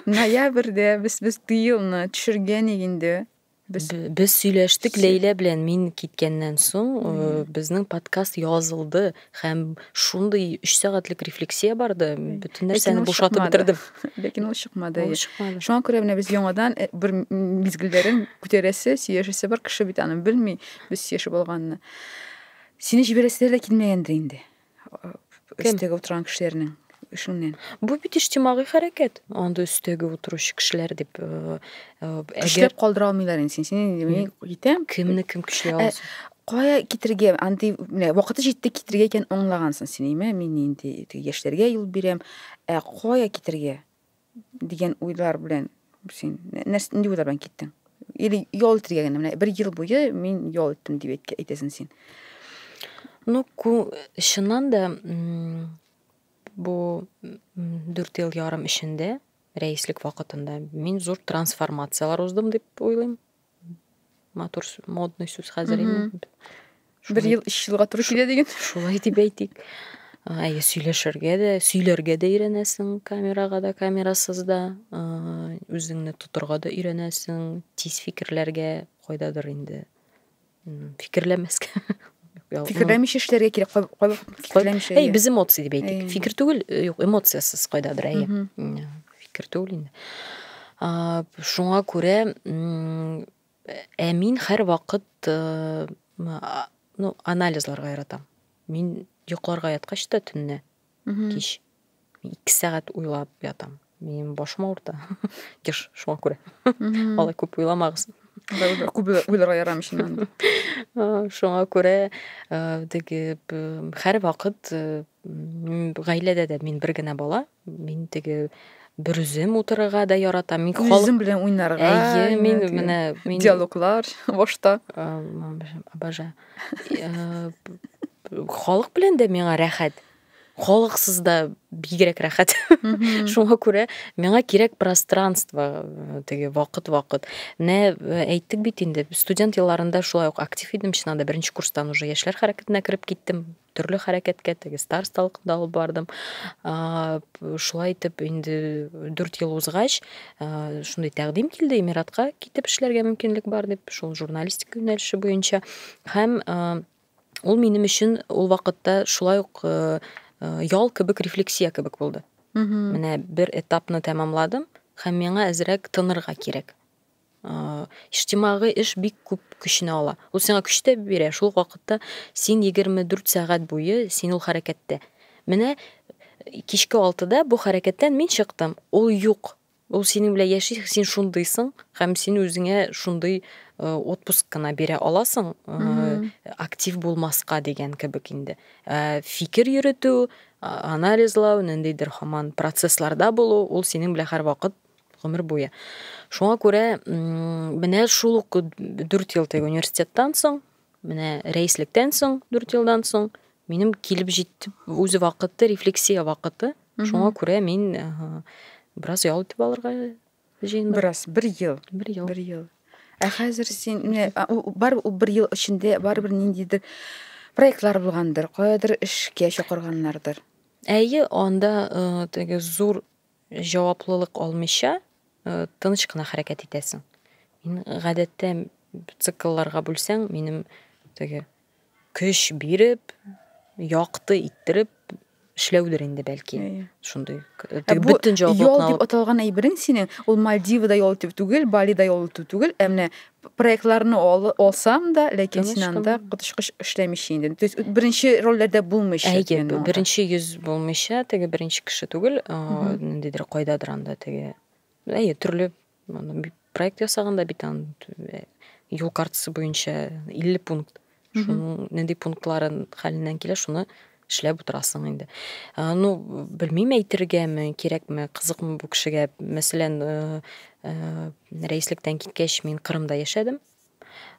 ноябрьдә без без тыелны төшергән инде. Без, без сөйләштек Ләйлә белән мин киткәннән соң, э, безнең подкаст язылды һәм шундый 3 сәгатьлек рефлексия барды, бөтен нәрсәне бушатып бетердем. Ләкин ул чыкмады. Ул чыкмады. Шуңа күрә менә без яңадан э, бер мизгелләрен күтәрәсе, сөйләшәсе бар кеше бит аны белми, без сөйләшеп алганны. Сине җибәрәсе дә килмәгәндер инде. Кем? Өстәге утырган кешеләрнең эшеңнән. Бу бит иҗтимагый хәрәкәт. Анда өстәге утыручы кешеләр дип э, э, көчләп калдыра алмыйлар инде син. Син мин китәм. Кемне кем көчли э, аласың? Кая китергә? Андый менә вакыты җитте китергә икән аңлагансың син, әйме? Мин инде яшьләргә юл бирәм. Ә кая китергә? дигән уйлар белән син нәрсә нинди уйлар белән киттең или ял итәргә генә менә бер ел буе мин ял иттем дип әйтәсең син ну чыннан да бу дүрт ел ярым эчендә рәислек вакытында мин зур трансформацияләр уздым дип уйлыйм матур модный сүз хәзер инде бер ел өч елга туры килә дигән шулай дип әйтик әйе сөйләшергә дә сөйләргә дә өйрәнәсең камерага да камерасыз да үзеңне тотырга да өйрәнәсең тиз фикерләргә кайдадыр инде фикерләмәскә фикерләмичә эшләргә кирәк кайбер фикерләмичә әй без эмоция дип әйтик фикер түгел э, юк эмоциясез кайда бер әйе фикер түгел инде шуңа күрә ә мин һәр вакыт э, ну анализларга яратам мин йокларга яткач та төнне кич 2 сәгать уйлап ятам. Минем башым авырта. Яш, шуңа күрә. Алай күп уйламагыз. Күп уйларга ярамый шуннан. Шуңа күрә теге һәр вакыт гаиләдә дә мин бер генә бала. Мин теге бер үзем утырырга да ярата. Мин халык... Үзем белән уйнарга. Әйе, мин менә мин диалоглар башта. Обожаю. Халык белән дә миңа рәхәт. халыксыз да бигрәк рәхәт шуңа күрә миңа кирәк пространство э, теге вакыт вакыт менә э, әйттек бит инде студент елларында шулай ук актив идем чын анда беренче курстан уже яшьләр хәрәкәтенә кереп киттем төрле хәрәкәткә теге старосталыкта алып бардым шулай итеп инде дүрт ел узгач э, шундый тәкъдим килде эмиратка китеп эшләргә мөмкинлек бар дип шул журналистика юнәлеше буенча һәм Ул минем өчен ул вакытта шулай ук ял кебек рефлексия кебек булды. Менә бер этапны тәмамладым һәм миңа әзрәк тынырга кирәк. Иҗтимагый эш бик күп көчне ала. Ул сиңа көч тә бирә, шул вакытта син 24 сәгать буе син ул хәрәкәттә. Менә кичке 6да бу хәрәкәттән мин чыктым, ул юк. Ул синең белән яши, син шундыйсың һәм син үзеңә шундый э, отпуск кына бирә аласың, э, актив булмаска дигән кебек инде. Ә фикер йөртү, анализлау, ниндидер хаман процессларда булу, ул синең белән һәрвакыт гомер буе. Шуңа күрә менә шул ук 4 ел теге университеттан соң Менә рәислектән соң, дүрт елдан соң, минем килеп җитеп, үзе вакыты, рефлексия вакыты. Шуңа күрә мин бераз ял итеп алырга җыендым. Бераз, бер ел. Бер ел. Бер ел. Ә хәзер син, менә, бар ул бер ел эчендә, бар бер ниндидер проектлар булгандыр, каядыр эшкә чакырганнардыр. Әйе, анда теге зур җаваплылык алмыйча, тыныч кына хәрәкәт итәсең. Мин гадәттә циклларга бүлсәң, минем теге көч биреп, якты иттереп эшләүдер инде бәлки. Шундый теге бөтен җаваплылыкны алып. Ял дип аталган әйберең синең, ул Мальдивада ял итү түгел, Балида ял итү түгел, ә менә проектларны ал, алсам да, ләкин Конечно. син анда коточкыч эшләмичә инде. То есть беренче рольләрдә булмыйча. Әйе, янда. беренче йөз булмыйча, теге беренче кеше түгел, ниндидер кайдадыр анда теге. Әйе, төрле проект ясаганда бит ан юл картасы буенча 50 пункт. Шуның нинди пунктларын хәленнән килә, шуны эшләп утырасың инде. Ну, белмим әйтергәме, кирәкме, кызыкмы бу кешегә. Мәсәлән, рәислектән киткәч мин Кырымда яшәдем.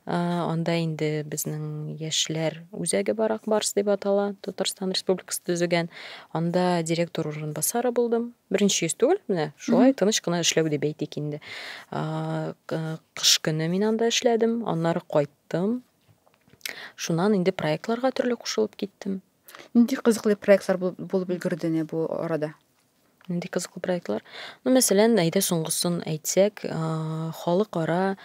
Анда инде безнең яшьләр үзәге бар, Акбарс дип атала, Татарстан Республикасы төзегән. Анда директор урынбасары булдым. Беренче йөз түгел, менә шулай тыныч кына эшләү дип әйтик инде. Кыш көне мин анда эшләдем, аннары кайттым. яттым. Шуннан инде проектларга төрле кушылып киттем. Нинди кызыклы проектлар булып өлгерде менә бу арада? Нинди кызыклы проектлар? Ну, мәсәлән, әйдә соңгысын әйтсәк, халыкара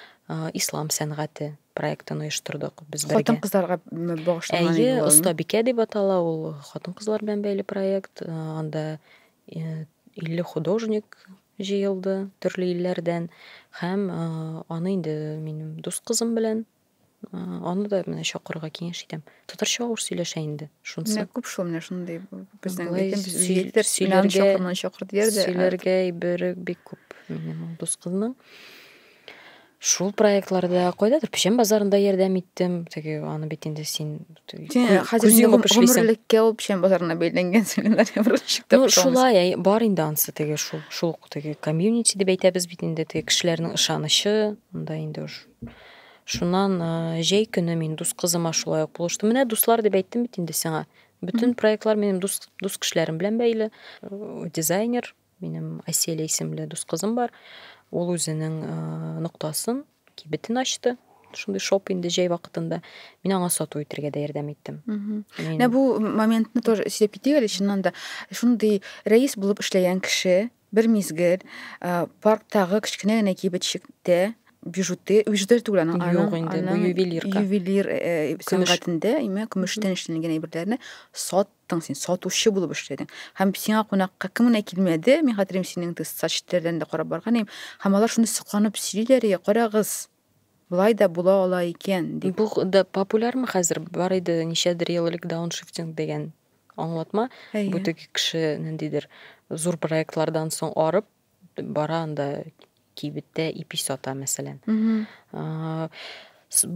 ислам сәнгате проектын оештырдык без бергә. Хатын кызларга багышланган. Әйе, оста бикә дип атала ул хатын кызлар белән бәйле проект. Анда 50 художник җыелды төрле илләрдән һәм аны инде минем дус кызым белән аны да менә чакырырга киңәш итәм. Татарча авыр сөйләшә инде. Шунсы. Менә күп шул менә шундый безнең җитер сөйләргә чакырман чакыр дияр дә. Сөйләргә әйбере бик күп минем дус кызның. Шул проектларда, кайдадыр печән базарында ярдәм иттем. Теге аны бит инде син хәзер инде күп эшлисең. Гомерлеккә ул печән базарына бәйләнгән семинария бер шикте. Ну, шулай, әй, бар инде ансы теге шул, шул теге комьюнити дип әйтәбез бит инде, теге кешеләрнең ышанычы, анда инде уж. Шуннан җәй көне мин дус кызыма шулай ук булыштым. Менә дуслар дип әйттем бит инде сиңа. Бөтен проектлар минем дус, дус кешеләрем белән бәйле. Дизайнер, Минем Аселя исемле дус кызым бар. Ул үзенең ноктасын, кибетен ачты. Шундый шоп инде җәй вакытында. Мин аңа сату итергә дә ярдәм иттем. Менә бу моментны тоже сөйләп китик әле, чыннан да. Шундый рәис булып эшләгән кеше бер мизгел парктагы кечкенә генә кибетчектә бижуты, бижуты түгел аның, аның, инде, аның ювелирка. ювелир сәнгатендә, имә, көмештән эшләнгән әйберләрне сат чыктың син, сатучы булып эшләдең. Һәм сиңа кунакка кем генә килмәде, мин хәтерим синең ты сачтерләрдән дә карап барган идем, һәм алар шуны сокланып сөйлиләр, я, карагыз, болай да була ала икән, дип. Бу да популярмы хәзер? Бар иде ничәдер ел элек дауншифтинг дигән аңлатма. Бу теге кеше ниндидер зур проектлардан соң арып, бара анда кибеттә ипи сата мәсәлән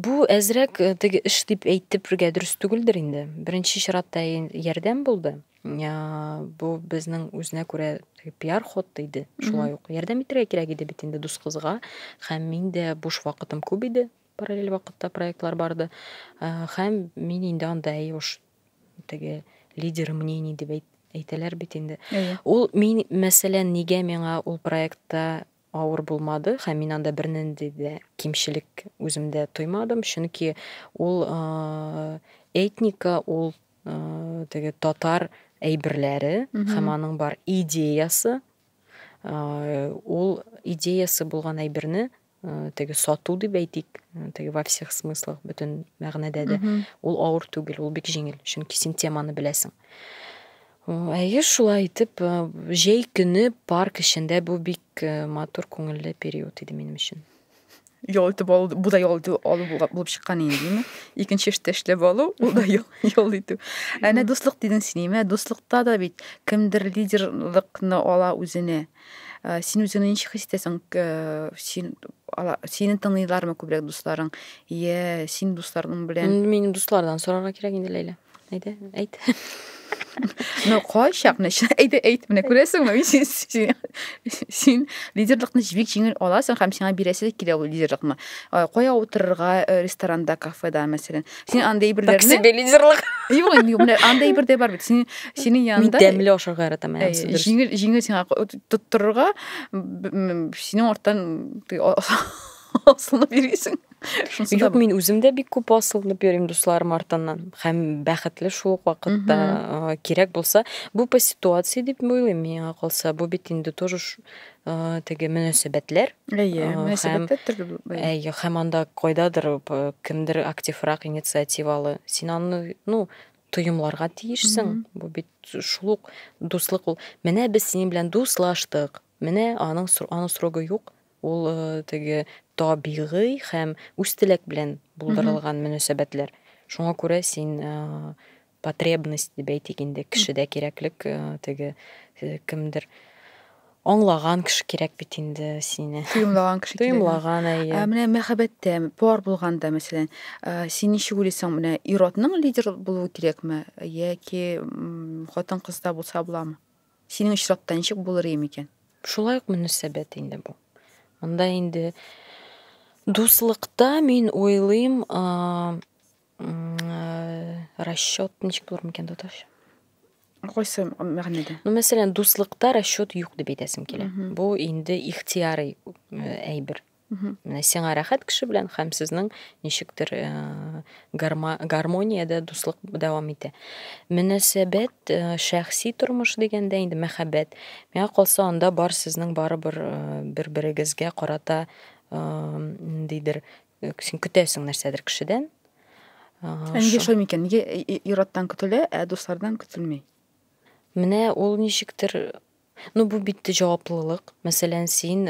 бу әзрәк э, теге эш дип әйтепергә дөрес түгелдер инде беренче чиратта ярдәм булды бу безнең үзенә күрә пиар ход иде шулай ук ярдәм итәргә кирәк иде бит инде дус кызга һәм мин дә буш вакытым күп иде параллель вакытта проектлар барды һәм мин инде анда әйе уж теге лидер мнений дип әйт, әйтәләр бит инде. Әйе. Ул мин мәсәлән нигә миңа ул проектта авыр булмады һәм мин анда бернинди дә кимчелек үземдә тоймадым, чөнки ул э, этника, ул э, теге татар әйберләре һәм аның бар идеясы, э, ул идеясы булган әйберне э, теге сату дип әйтик э, теге во всех смыслах бөтен мәгънәдә дә ул авыр түгел ул бик җиңел чөнки син теманы беләсең әйе шулай итеп э, җәй көне парк эчендә бу бик матур күңелле период иде минем өчен ял итеп алу бу да ял итү алу булып чыккан инде дими икенче эштә эшләп алу ул да ял итү әнә дуслык дидең син әмма дуслыкта да бит кемдер лидерлыкны ала үзенә Ә, син үзеңне ничек хис итәсең? Ә, син ала, сине тыңлыйлармы күбрәк дусларың? Йә, син дусларың белән. Инде минем дуслардан сорарга кирәк инде, Ләйлә. Әйдә, әйт. Ну, кайчак, нәчә, әйдә, әйт, менә күрәсеңме, мин син, син, син лидерлыкны бик җиңел аласың һәм сиңа бирәсе дә килә ул лидерлыкны. Ә, Кая утырырга э, ресторанда, кафеда, мәсәлән. сен андай берләрне таксиде лидерлык юк инде менә андай бер дә бар бит син синең янында мин тәмле ашарга яратам ә җиңел җиңел сиңа тоттырырга синең арттан асылынып йөрисең юк мин үзем дә бик күп асылынып йөрим дусларым артыннан һәм бәхетле шул ук вакытта кирәк булса бу по ситуации дип уйлыйм миңа калса бу бит инде тоже теге мөнәсәбәтләр. Әйе, мөнәсәбәтләр төрле булып Әйе, һәм анда кайдадыр кемдер активрак, инициативалы. Син аны, ну, тоемларга тиешсең. Бу бит шул ук дуслык ул. Менә без синең белән дуслаштык. Менә аның аның срогы юк. Ул э, теге табигый һәм үз теләк белән булдырылган мөнәсәбәтләр. Шуңа күрә син э, потребность дип әйтик инде кешедә кирәклек э, теге э, кемдер аңлаган кеше кирәк бит инде сине тоемлаган кеше тоемлаган әйе ә, менә мәхәббәттә пар булганда мәсәлән ә, син ничек уйлыйсың менә ир атның лидер булуы кирәкме яки хатын кызда булса буламы синең очракта ничек булыр ием икән шулай ук мөнәсәбәт инде бу монда инде дуслыкта мин уйлыйм ә, расчет ничек булыр микән татарча кайсы мәгънәдә ну мәсәлән дуслыкта расчет юк дип әйтәсем килә бу инде ихтияри әйбер менә сиңа рәхәт кеше белән һәм сезнең ничектер гармониядә дуслык дәвам итә мөнәсәбәт шәхси тормыш дигәндә инде мәхәббәт миңа калса анда бар сезнең барыбер бер берегезгә карата ниндидер Син көтәсең нәрсәдер кешедән. Ә нигә шулай микән? Нигә ир-аттан көтелә, ә дуслардан көтелми? Менә ул ничектер Ну, бу бит җаваплылык. Мәсәлән, син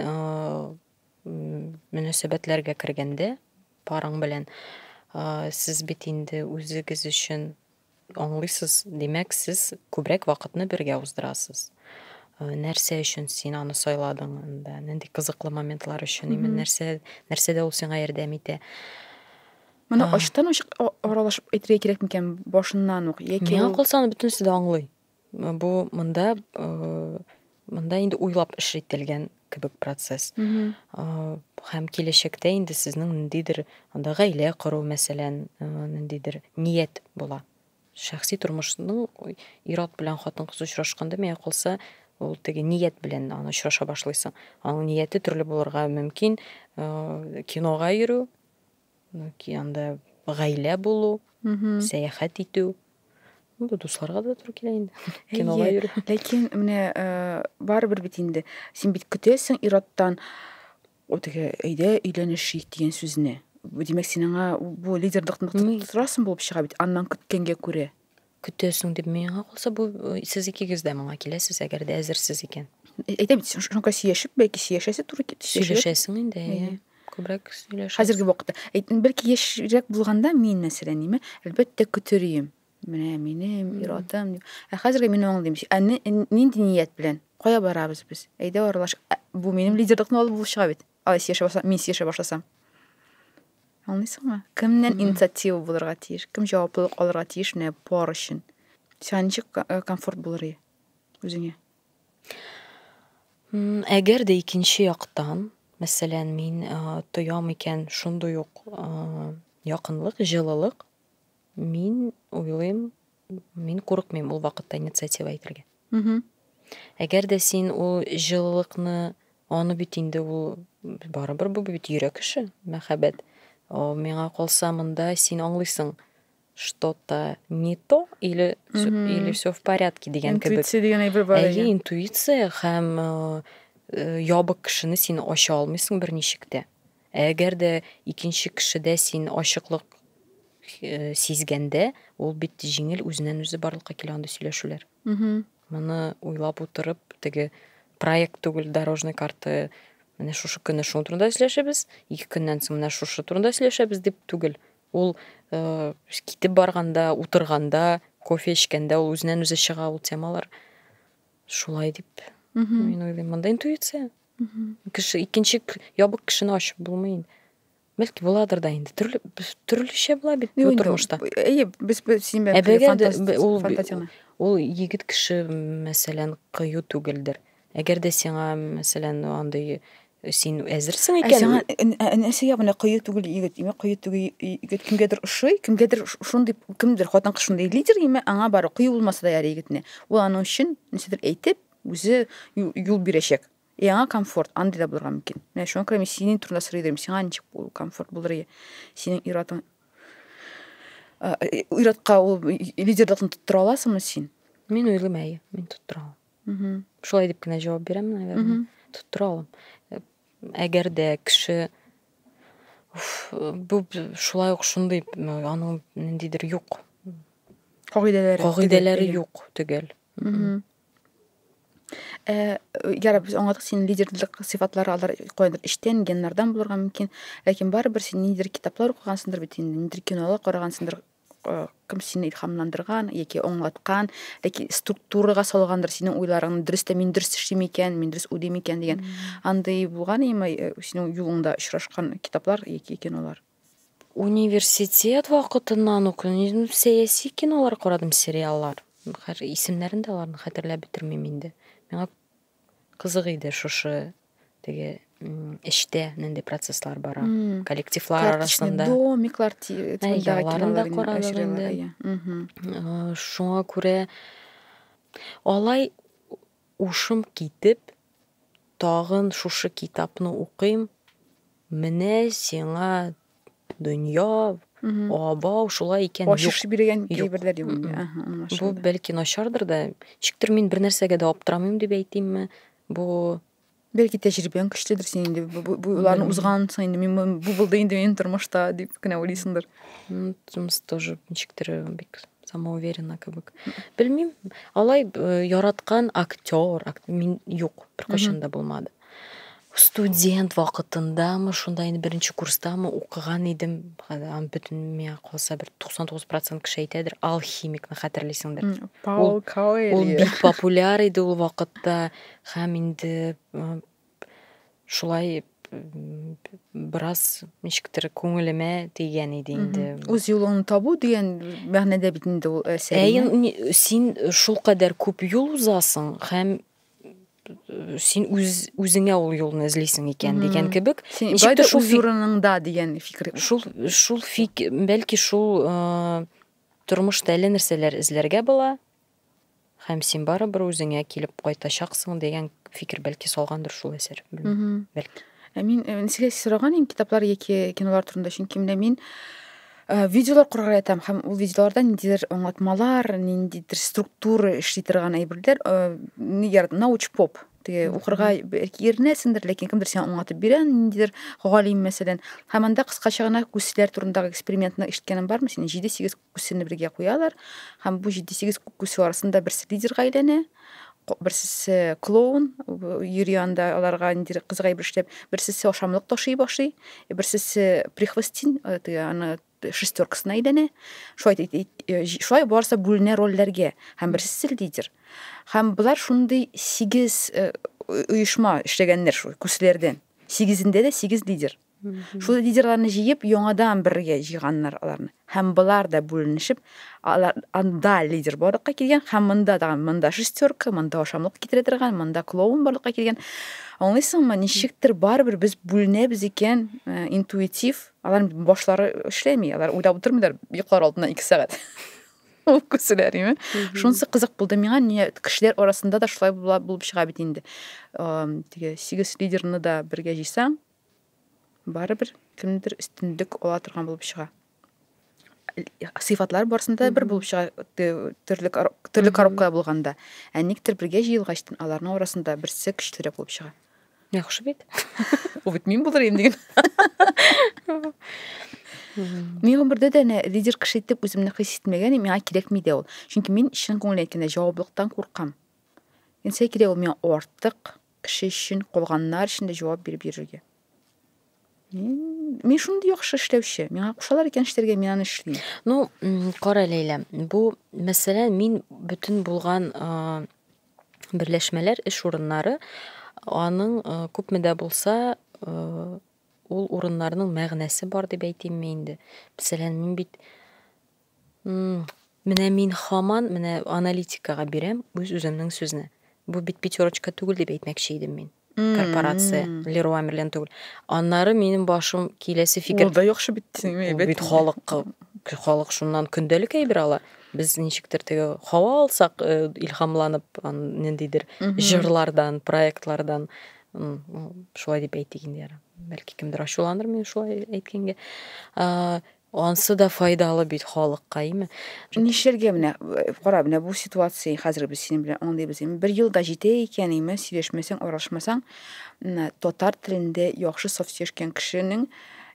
мөнәсәбәтләргә кергәндә, парың белән, сез бит инде үзегез өчен Аңлыйсыз, димәк, сез күбрәк вакытны бергә уздырасыз. Нәрсә өчен син аны сайладың анда? Нинди кызыклы моментлар өчен? Именно нәрсә, нәрсәдә ул сиңа ярдәм итә? Моны ачтан уч аралашып әйтергә кирәк микән башыннан ук? Яки Миңа калса, аны бөтенесе дә аңлый. Бу монда монда инде уйлап эш ителгән кебек процесс. Һәм киләчәктә инде сезнең ниндидер анда гаилә кору, мәсәлән, ниндидер ният була. Шәхси тормышның ир-ат белән хатын-кыз очрашканда миңа калса, ул теге ният белән аны очраша башлыйсың. Аның нияте төрле булырга мөмкин. Кинога йөрү, Яки анда гаилә булу, сәяхәт итү. Бу дусларга да туры килә инде. Кинога йөрү. Ләкин менә барыбер бит инде син бит көтәсең ир-аттан вот теге әйдә өйләнешик дигән сүзне. Димәк, син аңа бу лидерлыкны тотырасың булып чыга бит, аннан көткәнгә күрә. Көтәсең дип миңа калса, бу сез икегез дә моңа киләсез, әгәр дә әзерсез икән. Әйтәм бит, шуңа сөйләшеп, бәлки сөйләшәсе туры кит. Сөйләшәсең инде, әйе. Күбрәк сөйләшәсең. Хәзерге вакытта. Әйтен бәлки яшьрәк булганда мин мәсәлән, ниме, әлбәттә көтер идем. Менә минем иратым. Ә хәзерге мин аңлыйм. Ә нинди ният белән? Кая барабыз без? Әйдә аралаш. Бу минем лидерлыкны алып булып чыга бит. Алай сөйләшә башласам, мин сөйләшә башласам. Аңлыйсыңмы? Кемнән инициатива булырга тиеш, кем җаваплылык алырга тиеш менә пар өчен? Сиңа ничек э, комфорт булыр ие үзеңә? Әгәр дә икенче яктан, мәсәлән, мин э, тоям икән шундый ук э, якынлык, җылылык, мин уйлыйм, мин курыкмыйм ул вакытта инициатива әйтергә. Әгәр дә син ул җылылыкны аны бит инде ул барыбер бу бит йөрәк эше, мәхәббәт. О, миңа калса монда син аңлыйсың, что-то не то или или все в порядке дигән кебек. Интуиция дигән әйбер бар. Әйе, интуиция һәм э, э, ябык кешене син ача алмыйсың берничек тә. Ә әгәр дә икенче кешедә син ачыклык сизгәндә, ул бит җиңел үзеннән-үзе барлыкка килә андый сөйләшүләр. Моны уйлап утырып, теге проект түгел, дорожный карта менә шушы көнне шуның турында сөйләшәбез, ике көннән соң менә шушы турында сөйләшәбез дип түгел. Ул э, китеп барганда, утырганда, кофе эчкәндә ул үзеннән-үзе чыга ул темалар. Шулай дип мин уйлыйм. Монда интуиция. кеше икенче ябык кешене ачып булмый инде бәлки буладыр да инде төрле төрлечә була бит бу тормышта әйе без син белән ул егет кеше мәсәлән кыю түгелдер әгәр дә сиңа мәсәлән андый син әзерсең икән сиңа нәрсәгә менә кыю түгел егет имә кыю түгел егет кемгәдер ошый кемгәдер шундый кемдер хатын кыз шундый лидер имә аңа бары кыю булмаса да ярый егетне ул аның өчен нәрсәдер әйтеп Үзе юл бирәчәк. И аңа комфорт, андый да булырга мөмкин. Менә шуңа күрә мин синең турында сорый идем, сиңа ничек ул комфорт булыр ие? Синең иратың иратка ул лидерлыкны тоттыра аласыңмы син? Мин уйлыйм, әйе, мин тоттыра алам. Шулай дип кенә җавап бирәм, наверное. Тоттыра алам. Әгәр дә кеше бу шулай ук шундый аның ниндидер юк. Кагыйдәләре. Кагыйдәләре юк төгәл. Ә, яраб, без аңладык, синең лидерлык сыйфатлары алар каяндыр эчтән, геннардан булырга мөмкин. Ләкин барыбер син ниндидер китаплар укыгансыңдыр бит инде, ниндидер кинолар карагансыңдыр, э, кем сине илһамландырган яки аңлаткан, яки структурага салгандыр синең уйларыңны, дөрес тә мин дөрес эшлим икән, мин дөрес уйлыйм икән дигән. Андый булган имы э, синең юлыңда очрашкан китаплар яки кинолар? Университет вакытыннан ук сәяси кинолар карадым, сериаллар. Хәзер исемнәрен дә аларны хәтерләп бетермим инде. Миңа кызык иде шушы теге эчтә нинди процесслар бара. Коллективлар арасында. Домиклар тирәсендә кинолар карадым инде. Шуңа күрә алай ушым китеп Тагын шушы китапны укыйм, менә сиңа дөнья, абау, шулай икән, юк. Ачыш биргән әйберләр юк инде. Аһа, аңлашылды. Бу бәлки начардыр да, ничектер мин бер нәрсәгә дә аптырамыйм дип әйтимме? Бу Бәлки тәҗрибәң көчледер син инде. Боларны узгансың инде. Мин бу булды инде минем тормышта дип кенә уйлыйсыңдыр. Тумс тоже ничектер бик самоуверенно кебек белмим алай э, яраткан актер мин юк беркайчан да булмады студент вакытындамы шунда инде беренче курстамы укыган идем бөтен миңа калса бер туксан тугыз процент кеше әйтәдер алхимикны хәтерлисеңдер паул каэль ул бик популяр иде ул вакытта һәм инде шулай бераз ничектер күңелемә тигән иде инде. Үз юлыңны табу дигән мәгънәдә бит инде ул әсәр. Ә син шул кадәр күп юл узасың һәм син үз үзеңә ул юлны эзлисең икән дигән кебек ничектер шул урыныңда дигән фикер шул шул фик бәлки шул тормышта әллә нәрсәләр эзләргә була Һәм син барыбер үзеңә килеп кайтачаксың дигән фикер бәлки салгандыр шул әсәр. Белмим. Бәлки. Ә мин э, ничек сораган идем китаплар яки кинолар турында, чөнки менә мин э, видеолар карарга ятам һәм ул видеоларда ниндидер аңлатмалар, ниндидер структура эшли торган әйберләр, э, нигә науч поп теге укырга бәлки иренәсендер, ләкин кемдер сиңа аңлатып бирә, ниндидер галим мәсәлән. Һәм анда кыскача гына күсләр турындагы экспериментны ишеткәнең бармы синең? 7-8 Күсене бергә куялар һәм бу җиде сигез күсе арасында берсе лидерга әйләнә, берсесе клоун йөри анда аларга нидер кызгаеп эшләп, берсесе ашамлык ташый башлый, берсесе прихвостин э, аны шестеркасына әйләнә. Шулай э, шулай барса бүленә рольләргә һәм берсесе лидер. Һәм болар шундый сигез э, оешма эшләгәннәр шул күсләрдән. Сигезендә дә сигез лидер. Шул лидерларны җыеп, яңадан бергә җыйганнар аларны. Һәм болар да бүленешеп, алар анда лидер барлыкка килгән, һәм монда да монда шестерка, монда ашамлык китерә торган, монда клоун барлыкка килгән. Аңлыйсыңмы, ничектер барыбер без бүленәбез икән, э, интуитив, алар башлары эшләми, алар уйлап утырмыйлар, йоклар алдына 2 сәгать. Ул күселәр, име? Шунсы кызык булды миңа, ни кешеләр арасында да шулай булып чыга бит инде. Э, теге 8 лидерны да бергә җыйсаң, барыбер кемдер өстенлек ала торган булып чыга сыйфатлар барысында бер булып чыга төрле төрле коробкалар булганда ә никтер бергә җыелгач аларның арасында берсе көчлерәк булып чыга яхшы бит ул бит мин булыр идем диген мин гомердә дә әнә лидер кеше итеп үземне хис итмәгән и миңа кирәкми дә ул чөнки мин чын күңелдән әйткәндә җаваплылыктан куркам нәрсә кирәк ул миңа артык кеше өчен, калганнар өчен дә җавап биреп йөрергә. Мин мин шундый яхшы эшләүче. Миңа кушалар икән эшләргә, мин аны эшлим. Ну, кара Ләйлә, бу мәсьәлә мин бөтен булган берләшмәләр, эш урыннары аның күпме дә булса ул урыннарның мәгънәсе бар дип әйтимме инде. Мәсәлән, мин бит Мм, менә мин хаман менә аналитикага бирәм үз үземнең сүзне. Бу бит пятерочка түгел дип әйтмәкче идем мин. Корпорация, Мм. Леруа Мерлен түгел. Аннары минем башым киләсе фикер. Ул да яхшы бит, дисең, әйбәт. Ул бит халыкка, халык шуннан көндәлек әйбер ала. Без ничектер теге һава алсак, илһамланып, ниндидер җырлардан, проектлардан, шулай дип әйтик инде, бәлки кемдер ачуланыр минем шулай әйткәнгә. Ансы да файдалы бит халыкка, име? Нишләргә менә, кара, менә бу ситуация, хәзер без синең белән аңлыйбыз, име? Бер ел да җитә икән, име? Сөйләшмәсәң, аралашмасаң, татар телендә яхшы саф сөйләшкән кешенең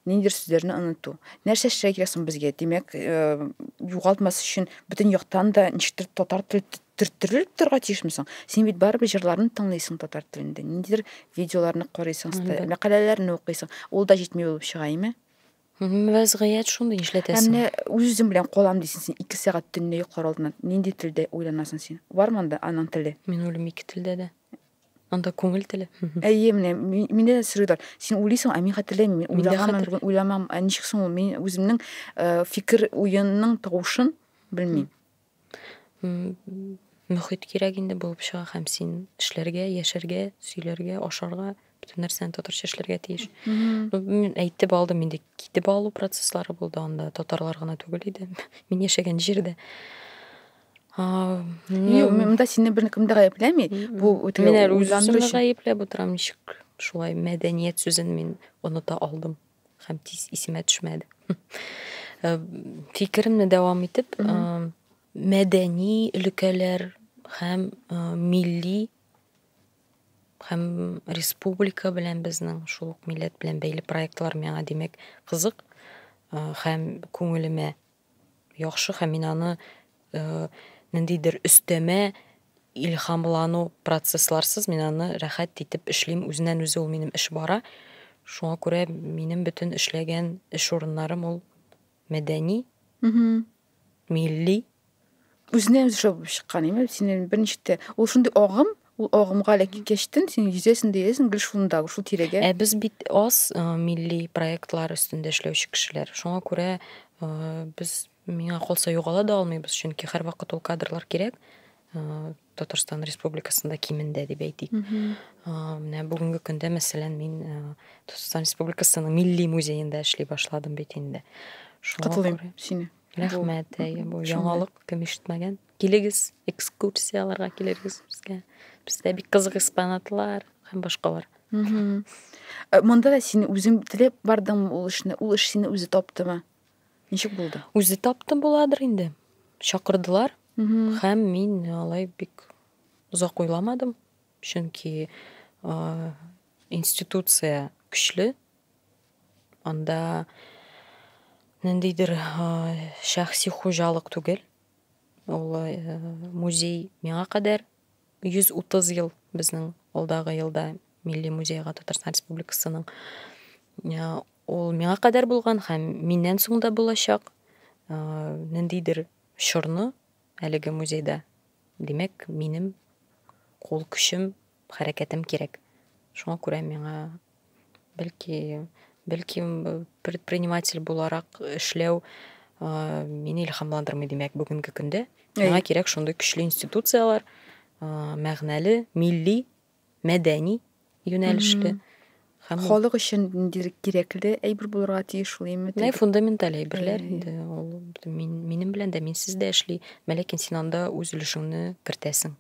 ниндидер сүзләрне оныту. Нәрсә эшләргә кирәк соң безгә? Димәк, э, югалтмас өчен бөтен яктан да ничектер татар теле төрттерелеп торырга тиешме соң? Син бит барыбер җырларны тыңлыйсың татар телендә, ниндидер видеоларны карыйсың, мәкаләләрне укыйсың. Ул да җитми булып чыга, име? Вәзгыять шундый, нишләтәсең. Ә менә үз-үзең белән калам дисең син ике сәгать төнлә йоклар алдыннан. Нинди телдә уйланасың син? Бармы анда аның теле? Мин уйлыйм ике телдә дә. Анда күңел теле. Әйе, менә миндә дә сорыйлар. Син уйлыйсың, ә мин хәтерләмим. Мин уйлаганмын, бүген уйламам. Ә ничек соң ул? Мин үземнең фикер уенның тавышын белмим. мөхит кирәк инде булып чыга һәм син эшләргә, яшәргә, сөйләргә, ашарга, бөтен нәрсәне татарча эшләргә тиеш. Мин әйтеп алдым инде, китеп алу процесслары булды анда, татарлар гына түгел иде. Мин яшәгән җирдә. Юк, монда сине беркем дә гаепләми. Бу үткен уйлану өчен. Мин гаепләп утырам, ничек шулай мәдәният сүзен мин оныта алдым. һәм тиз исемә төшмәде. Э, фикеремне дәвам итеп, э, мәдәни өлкәләр һәм э, милли һәм республика белән безнең шул ук милләт белән бәйле проектлар миңа димәк кызык һәм күңелемә яхшы һәм мин аны ниндидер өстәмә илһамлану процессларсыз мин аны рәхәт итеп эшлим үзеннән үзе ул минем эш бара шуңа күрә минем бөтен эшләгән эш урыннарым ул мәдәни милли Үзенә үзе шау булып чыккан, әйме, синен берничә тә. Ул шундый агым, ул агымга элек кичтен, син йөзәсен дә йөзәсен гел шунда, шул тирәгә. Ә без бит аз э, милли проектлар өстендә эшләүче кешеләр. Шуңа күрә э, без миңа калса югала да алмыйбыз, чөнки һәрвакыт ул кадрлар кирәк. Э, Татарстан Республикасында кимендә дип әйтик. Э, Менә бүгенге көндә, мәсәлән, мин э, Татарстан Республикасының Милли музеенда эшли башладым бит инде. Шуңа Котылыйм күрә- сине. Рәхмәт, әйе, бу яңалык, кем ишетмәгән. Килегез, экскурсияләргә килергез безгә. Бездә бик кызык экспонатлар һәм башкалар. Э, монда да син үзең теләп бардың ул эшне, ул эш сине үзе таптымы? Ничек булды? Үзе тапты буладыр инде. Чакырдылар һәм мин алай бик озак уйламадым, чөнки институция көчле, Анда ниндидер шәхси хуҗалык түгел. Ул музей миңа кадәр 130 ел безнең алдагы елда Милли музейга Татарстан Республикасының ул миңа кадәр булган һәм миннән соң да булачак ниндидер чорны әлеге музейда. Димәк, минем кул көчем, хәрәкәтем кирәк. Шуңа күрә миңа Бәлки, бәлки предприниматель буларак эшләү мине илһамландырмый, димәк, бүгенге көндә. Миңа кирәк шундый көчле институцияләр, мәгънәле, милли, мәдәни юнәлешле. Һәм халык өчен кирәкле әйбер булырга тиеш шул име? Нәй фундаменталь әйберләр инде. Ул минем белән дә, минсез дә эшли. Ләкин син анда үз өлешеңне кертәсең.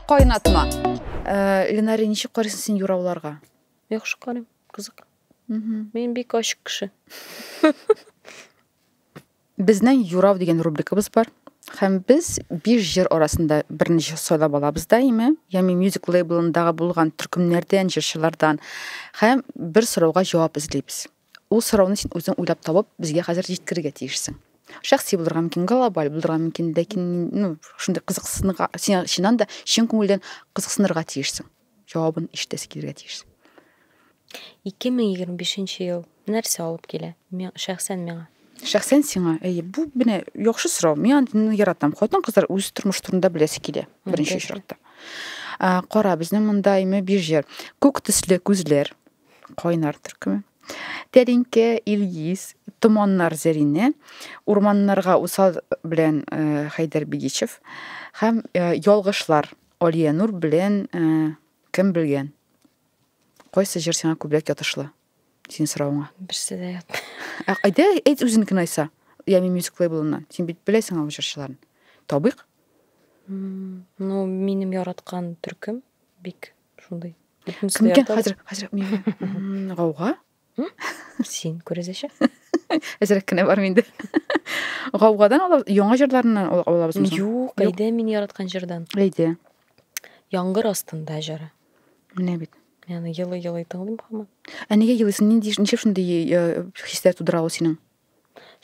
Кайнатма. Э, Ленари, ничек карыйсың син юрауларга? Яхшы карыйм, кызык. Мин бик ачык кеше. Безнең юрау дигән рубрикабыз бар. Һәм без биш җыр арасында берничә сайлап алабыз даими, ями мюзик лейблындагы булган төркемнәрдән, җырчылардан һәм бер сорауга җавап эзлибез. Ул сорауны син үзең уйлап табып, безгә хәзер җиткерергә тиешсең. Шәхси булырга мөмкин, глобаль булырга мөмкин, ләкин ну, шундый кызыксынырга, син чыннан да чын күңелдән кызыксынырга тиешсең. Җавабын ишетәсе килергә тиешсең. 2025 ел нәрсә алып килә? Шәхсән миңа. Шәхсән сиңа, әйе, бу менә яхшы сорау. Мин аны яратам. Хатын-кызлар үз тормыш турында беләсе килә, беренче очракта. Кара, безнең монда име бирҗер. Күк төсле күзләр, Кайнар төркеме. Тәринке, Илгиз, Томаннар Зәрине, Урманнарга усал белән э, Хәйдәр Бигичев һәм э, Ялгышлар Алия Нур белән э, кем белгән? Кайсы җыр сиңа күбрәк ятышлы? Син соравыңа. Берсе дә ят. Ә әйдә, әйт үзенекен айса. Ями мюзик лейблыннан. Син бит беләсең аңа җырчыларын. Табыйк. Ну, минем яраткан төркем бик шундай кім екен хәзер хәзер мин гауга син күрәзәче әзерәк кенә бар инде гаугадан яңа җырларыннан алабыз юк әйдә мин яраткан җырдан әйдә яңгыр астында җыры менә бит яны елый елый тыңлыйм хаман ә нигә елыйсың нинди ничек шундый э, хисләр тудыра ул синең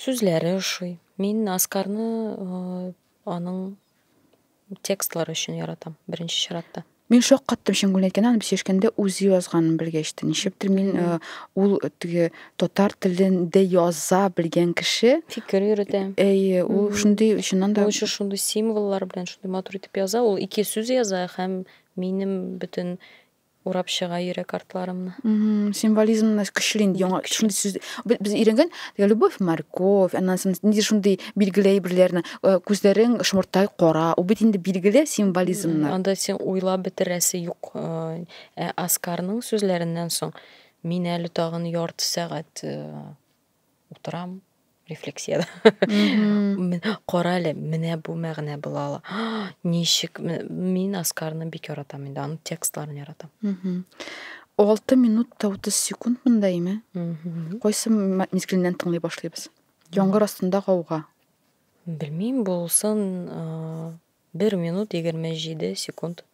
сүзләре ошый мин аскарны э, аның Текстлар өчен яратам, беренче чиратта. Мин шаккаттым чын гүлән икән, аны без яшькәндә үзе язганын белгәч тә. Нишләптер мин э, ул теге татар телендә яза белгән кеше, Фикер йөрүдә. әйе, ул шундый чыннан да Ул еще шундый символлар белән шундый матур итеп яза. Ул ике сүз яза һәм минем бөтен урап чыга йөрәк артларымны. Символизм нас көчле инде яңа шундый сүз. Без өйрәнгән любовь морковь, аннан соң нидер шундый билгеле әйберләрне, э, күзләрең шомыртай кара. Ул бит инде билгеле символизмнар. Анда син уйлап бетерәсе юк. Э, ә Аскарның сүзләреннән соң мин әле тагын ярты сәгать э, утырам рефлексияда кара әле менә бу мәгънә була ала ничек мин аскарны бик яратам инде аның текстларын яратам алты минут та утыз секунд мындаймы кайсы мизгеленнән тыңлый башлыйбыз яңгыр астында гауга белмим булсын бер минут егерме җиде секунд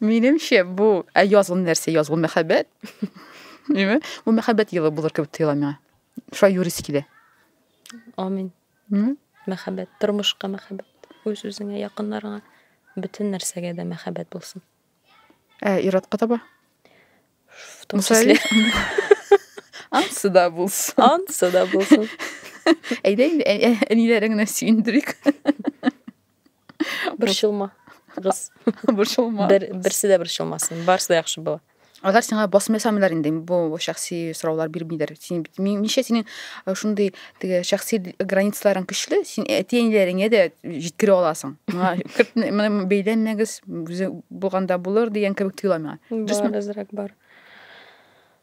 Минемчә, бу ә язгын нәрсә, язгын мәхәббәт. Димме? Бу мәхәббәт елы булыр кебек тоела миңа. Шулай юрис килә. Амин. Мм? Мәхәббәт, тормышка мәхәббәт. Үз үзеңә, якыннарыңа, бөтен нәрсәгә дә мәхәббәт булсын. Ә иратка таба? В том числе. Ансы да булсын. Ансы да булсын. Әйдә инде әниләреңне сөендерик. Борчылма, кыз. Борчылма. Бер, берсе дә борчылмасын. Барысы да яхшы була. Алар сиңа басым ясамыйлар инде. Бу шәхси сораулар бирмиләр. Син бит мин- ничә синең э, шундый теге шәхси границаларың көчле, син әти-әниләреңә дә җиткерә аласың. Миңа керт- менә бәйләнмәгез, үзе булганда булыр дигән кебек тоела миңа. Дөресме? Бар, азрак бар.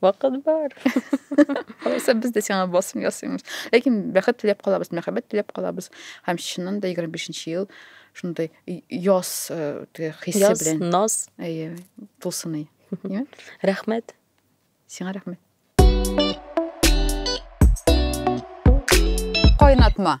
Вакыт бар. Алайса без дә сиңа басым ясыймыз. Ләкин бәхет теләп калабыз, мәхәббәт теләп калабыз. Һәм чыннан да 25 ел шундый яз э, хисе белән. Яз, наз. Әйе, булсын әй. Рәхмәт. Сиңа рәхмәт. Кайнатма.